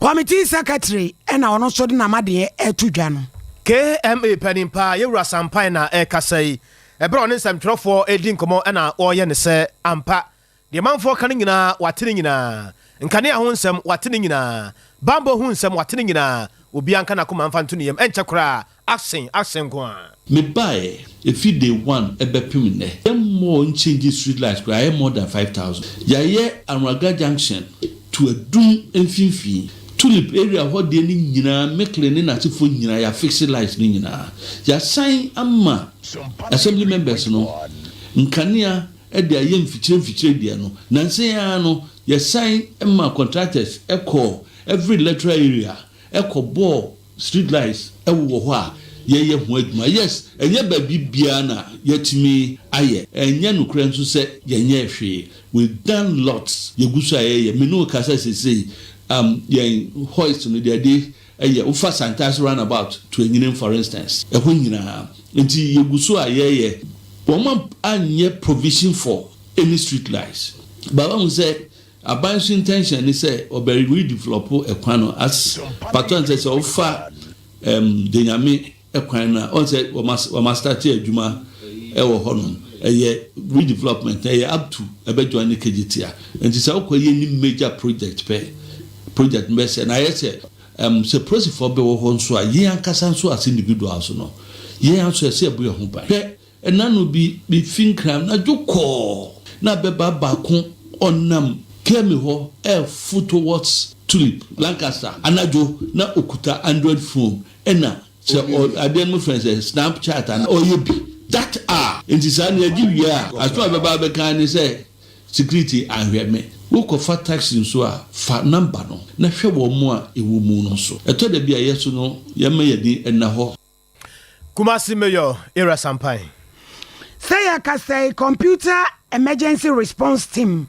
Committee Secretary na ɔno nso de n'amadeɛ ɛto dwa no. KMA panin paa Yɛwura Sampae na ɛrekasa yi. Ɛberɛ a ɔne nsɛmtwerɛfoɔ redi nkɔmmɔ na ɔreyɛ ne sɛ, Ampa, deɛ manfoɔ ka no nyinaa wate ne nyinaa, nkanea ho nsɛm wate ne nyinaa, banbɔ ho nsɛm wate ne nyinaa, obiara nka n'akoma mfa nto ne yam, ɛnkyɛ koraa Asen asen nko ara. Me baeɛ ɛfiri day one ɛbɛpem nnɛ yɛ mmɔɔ nkyɛngyi street light koraa yɛ more than five thousand yayɛ Anraga junction to Adum mfimfini tulip area hɔ deɛ no nyinaa Mickley ne n'asefoɔ nyinaa yɛ afixe light no nyinaa yasan ama assembly members no nkanea de ayɛ mfikyire mfikyire deɛ no nansa yi ara no yɛsan ma contractors kɔɔ every electoral area kɔbɔɔ Street lights wowɔ hɔ a yɛyɛ ho adwuma. Yes, ɛnyɛ baabi biara na yɛatumi ayɛ. Ɛnyɛ nokorɛ nso sɛ yɛnyɛɛ hwee. We've done lots. Yɛgu so a yɛyɛ. Me ne wo kasa seesei, um, yɛn hoist no, deɛ ɛde yɛ, wofa Santase roundabout to Enyinin for instance, ɛhɔ nyinaa. Nti yɛgu so a yɛyɛ. Wɔn anyɛ provision for any street lights. But wahu sɛ Aban so intention ne sɛ ɔbɛ redevelop ɛkwan no as pato ansɛ sɛ ɔfa ɛm denyame ɛkwan no a ɔn sɛ wɔma wɔma start adwuma ɛwɔ hɔ nom ɛyɛ redevelopment ɛyɛ up to ɛbɛ join ne kgt a nti sɛ ɔkɔ yɛ ni major project pɛ project no bɛ sɛ na ayɛ sɛ ɛm sɛ prosifɔ bɛ wɔ hɔ nso a yɛn ankasa nso as individuals no yɛn nso ɛsɛ ɛbo yɛn ho ban hwɛ Nna no bi mifi Nkran anadwo kɔɔ na bɛba baako ɔnam Kemi hɔ ɛɛfo towards Tulip, Lancaster, anadwo na okuta Android phone ɛna sɛ ɔ adeɛ no mo frɛ no sɛ Snapchat anaa ɔɔyɛ bi that a nti saa no yɛgye wie a asem a bɛba abɛka ara ne sɛ security anhwɛ me. Wo kɔ fa taxi nso a fa number no na hwɛ wɔn mo a ɛwɔ mu no nso. Ɛtɔ da bi a yɛso no yɛma yɛn ani nna hɔ. Kumasi Mayor Ira Sampan. Sɛ yɛkasa yi, Computer Emergency Response Team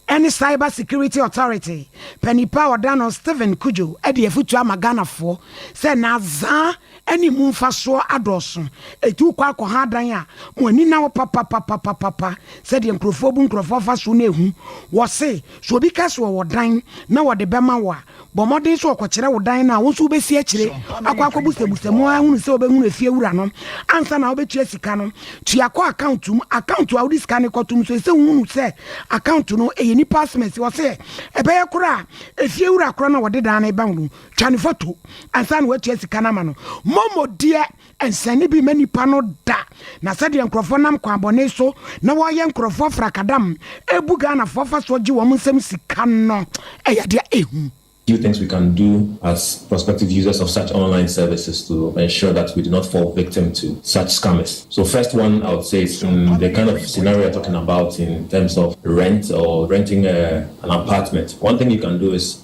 ne Cyber Security Authority panipa a ɔda no Stephen Cudjoe de afutuo ama Ghanafoɔ sɛ na dza ne mu mfasoɔ adɔɔso, etu kɔ akɔha adan a mo ani na hɔ papapapapapa sɛdeɛ nkorɔfoɔ bu nkorɔfoɔ afa so no ehu. Wɔse, sɛ obi ka sɛ ɔwɔ dan na wɔde bɛma wo a, Bɔ mmɔden sɛ ɔkɔkyerɛ wo dan no a wo nso wobɛsi akyire akɔ akɔbusabusa mu ara hunu sɛ wobɛhunu efie wura no ansa na wobɛtua sika no. Tua kɔ account mu. Account a wode sika no kɔto mu nso ɛsɛ wohunu sɛ account no ɛyɛ nipa asɛm ɛsɛ ɔsɛ ɛbɛyɛ korɔ a efie wura korɔ na wɔde dan no reba no twa ne photo ansa na woatua sika no ama no. Momo deɛ nsɛnne bi mma nnipa no da, na sɛdeɛ nkorɔfoɔ nam kwan bɔne so na wɔyɛ nkorɔfoɔ afrakadam bu Ghanafoɔ fa soɔ gye wɔn nsam sika no ɛyɛ adeɛ a ɛhu. Few things we can do as prospective users of such online services to ensure that we do not fall victim to such scammers. So first one I would say is in the kind of scenario you're talking about in terms of rent or renting an apartment, one thing you can do is.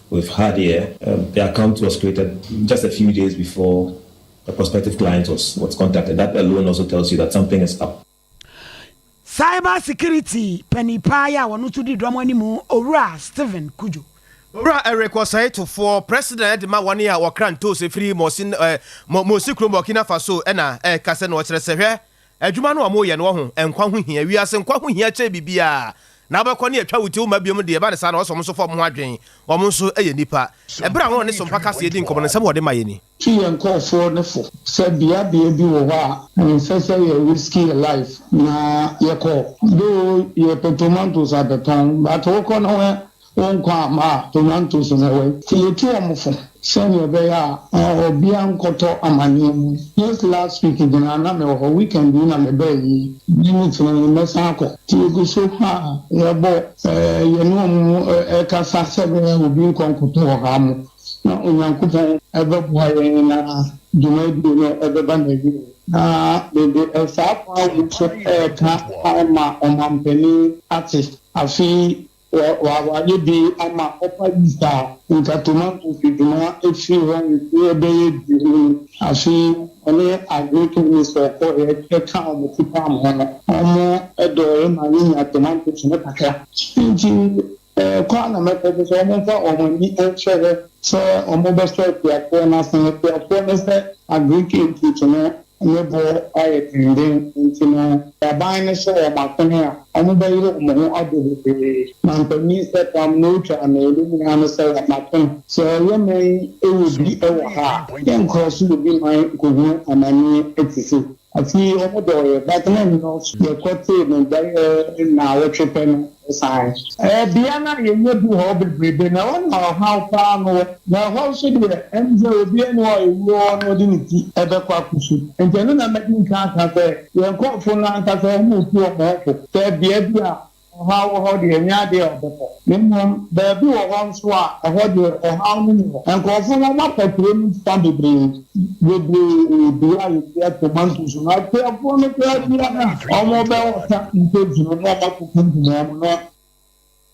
we've had here, the account was created just a few days before the prospective client was was contacted, that alone also tells you that something is up. Cyber Security panin paa yi a ɔno nso di dɔm anim, Owura Stephen Kudjo. Owura Eric Osei Tufoɔ, President de ma wɔn a wɔkra ntoosi firi Mosi, eh, Mo, Mosi kurom Burkina Faso ɛna ɛka sɛ na ɔkyerɛ sɛ hwɛ, Adwuma no a wɔreyɛ no ɔho nkwa ho hia, wiase nkwa ho hia kyɛn biribiara. Na wobɛkɔ ne atwa wo ti woma biom deɛ ɛba ne saa na wɔsɛ wɔn nso fa wɔn ho adwen, wɔn nso yɛ nnipa. Ɛberɛ a wɔne Sompa Kaseɛ di nkɔmmɔ no nsɛm a wɔde maeɛ ni. Twi yɛn nkorɔfoɔ no fo sɛ bea bea bi wɔ hɔ a ɛnsɛ sɛ yɛ risk yɛ life na yɛkɔ though yɛpɛ tomatoes abɛtɔn but wokɔ no wɛ Wo nkwa ama a onya nto so na ɛwɔ he? Nti yɛtu wɔn fo sɛnea ɛbɛyɛ a obiara nkɔtɔ amanneɛ mu. Just last week nyinaa na mewɔ hɔ, weekend yi na mebaa yi, nnɛ ne kyerɛ yi mɛsan akɔ. Nti yɛgu so a yɛbɔ yɛne wɔn kasa sɛ ɛbɛyɛ a obi nkɔ nkɔtɔ wɔ ha mo na Onyankopɔn bɛboa yɛn na dwumadie no bɛba n'awieɛ. Na mede saa kwan wei so reka ama ɔmampanin ate. Afei Wɔ wɔ wayɛ bi ama Upper East a nka tomatoes dwuma firi hɔ mfeɛ bɛyɛ du ni. Afe yi ɔne Agric Minister kɔɔeɛ kaa wɔn ti paam ho no, wɔn dɔɔeɛ maa yɛnya tomatoes no kakra. Nti ɛkɔ a na mɛkɔ so sɛ wɔmfa wɔn ani nhwɛ hɔ sɛ wɔbɛsɔ akuafoɔ no ase. Akuafoɔ no sɛ Agric input no ne bo ayɛ denden nti no, Aban no hyɛ wɔn akɔne a, wɔbɛyere wɔn ho abɔ bebree. Mampanyin Sepram na otwa mmamu nyinaa no sɛ wɔato no. Sɛ ɔyɛ man yi wɔ bi wɔ ha a, yɛnkɔɔ so wɔ bi man kɔhunu amanneɛ te se. Afe yi wɔdɔɔ yɛ, but na nnɔɔso. Yɛkɔtee no bɛyɛ nnawɔtwe pɛ no, Osian. Ɛyɛ bea no a yenya du hɔ beberebe, na ɛhɔ na ɔhaw paa no wɔ. Na ɛhɔ so deɛ, ɛne sɛ obiara nni hɔ a ewuo wɔ hɔ na ɔde ne ti bɛkɔ akosu. Enti ɛno na madi nkan aka sɛ, yɛn nkurɔfo no ankasa wɔn a wotu wɔn ho fo sɛ bea bi a ɔhaw wɔ hɔ deɛ, ɛnyɛ ade a wɔbɛkɔ. Na mmom, baabi wɔ hɔ nso a, ɛhɔ deɛ, ɔhaw no nni hɔ. Nkurɔfo no, wɔafa kurow no fã bebree. bebree bi a yɛdua tomatoes no akuafoɔ no koraa bia no a wɔn bɛ wɔta ntoos no na wɔn akɔ company wɔn no.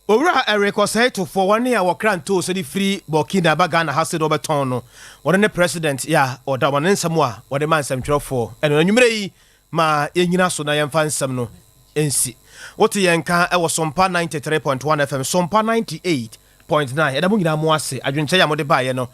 Owura Eric Osei Tuffour wɔne a wɔkra ntoos de firi Burkina ba Ghana ha sɛdeɛ wɔbɛtɔn no wɔno ne President ya ɔda wɔn ne nsɛm a wɔde ma nsɛmtwerɛfoɔ ɛno anwummerɛ yi ma yɛnyina so na yɛmfa nsɛm no nsi wote yɛn nka wɔ Sompa 93.1 FM Sompa 98. Point nine, Yɛda mo nyinaa mo ase adwenkyɛe a mode baeɛ no.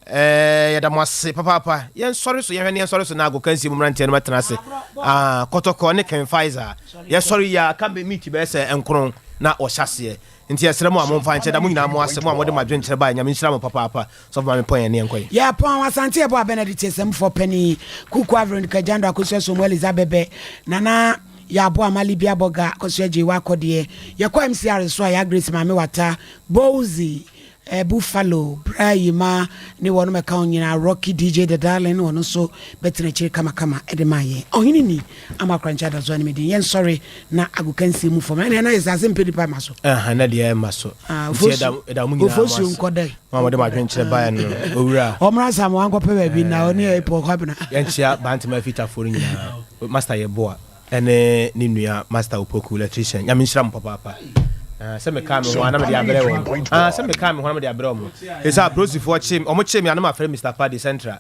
Eeh yɛda mo ase papaapa. Yɛnsɔre so, yɛnhwɛ ne yɛnsɔre so na agokansie mu mmeranteɛ no bɛtena ase. Ah, Kɔtɔkɔ ne Ken Faizah. Yɛsɔre yi ara, aka me meet bɛyɛ sɛ nkron na wɔhyɛ aseɛ. Nti yɛsrɛ mo a momfa nkyɛ. Yɛda mo nyinaa mo ase, mo a mode mo adwenkyerɛ baeɛ. Nyame nhyira mo papaapa. Sɔfo maame pɔn yɛn ne yɛn kɔ yi. Yɛ pɔn wɔ Asante ɛbɔ abɛn adi tiɛsɛmfoɔ panin Kukua Veronica Gyando Akosua Somu Eliza Bɛbɛ Nana Yɛabo Ama Libia Bɔga Akosua Gyei W'akɔdeɛ Yɛkɔ MCR nso a Yaa Grace Maame Wata Bowzy eh, Buffalo Bra Yima ne wɔnom ɛka ho nyinaa Rocky DJ The Darling wɔno nso bɛtena akyiri kamakama ɛde maa yɛn Ɔhene ni ama Korankye Adazoa ne me din yɛn sɔre na agokansie mu fam ɛne ɛna yɛ sase mpɛ nipa ma so Aha na deɛ ɛma so ah, Nti ɛda- ɛda mo nyinaa mo Ofosuo ase. nkɔdɛ Wɔn a wɔde mo adwene kyerɛ baeɛ no, owura. Ɔmmra Nsam, wankɔpɛ baabi na ɔne yɛn repɔ Kwabena. Yɛnkyea Bantama Afitafoɔ no nyinaa, Master Yeboah ne ne nua Master Opoku, Electrician. Nyame nhyira mo papaapa. Ah, sɛ mekaa me ho a na mede abrɛ wɔn. Ah, sɛ mekaa me ho a na mede abrɛ wɔn. Ɛsɛ sɛ Aprosifoɔ kye me, wɔkyee me a na mafrɛ Mister Paddy, Central.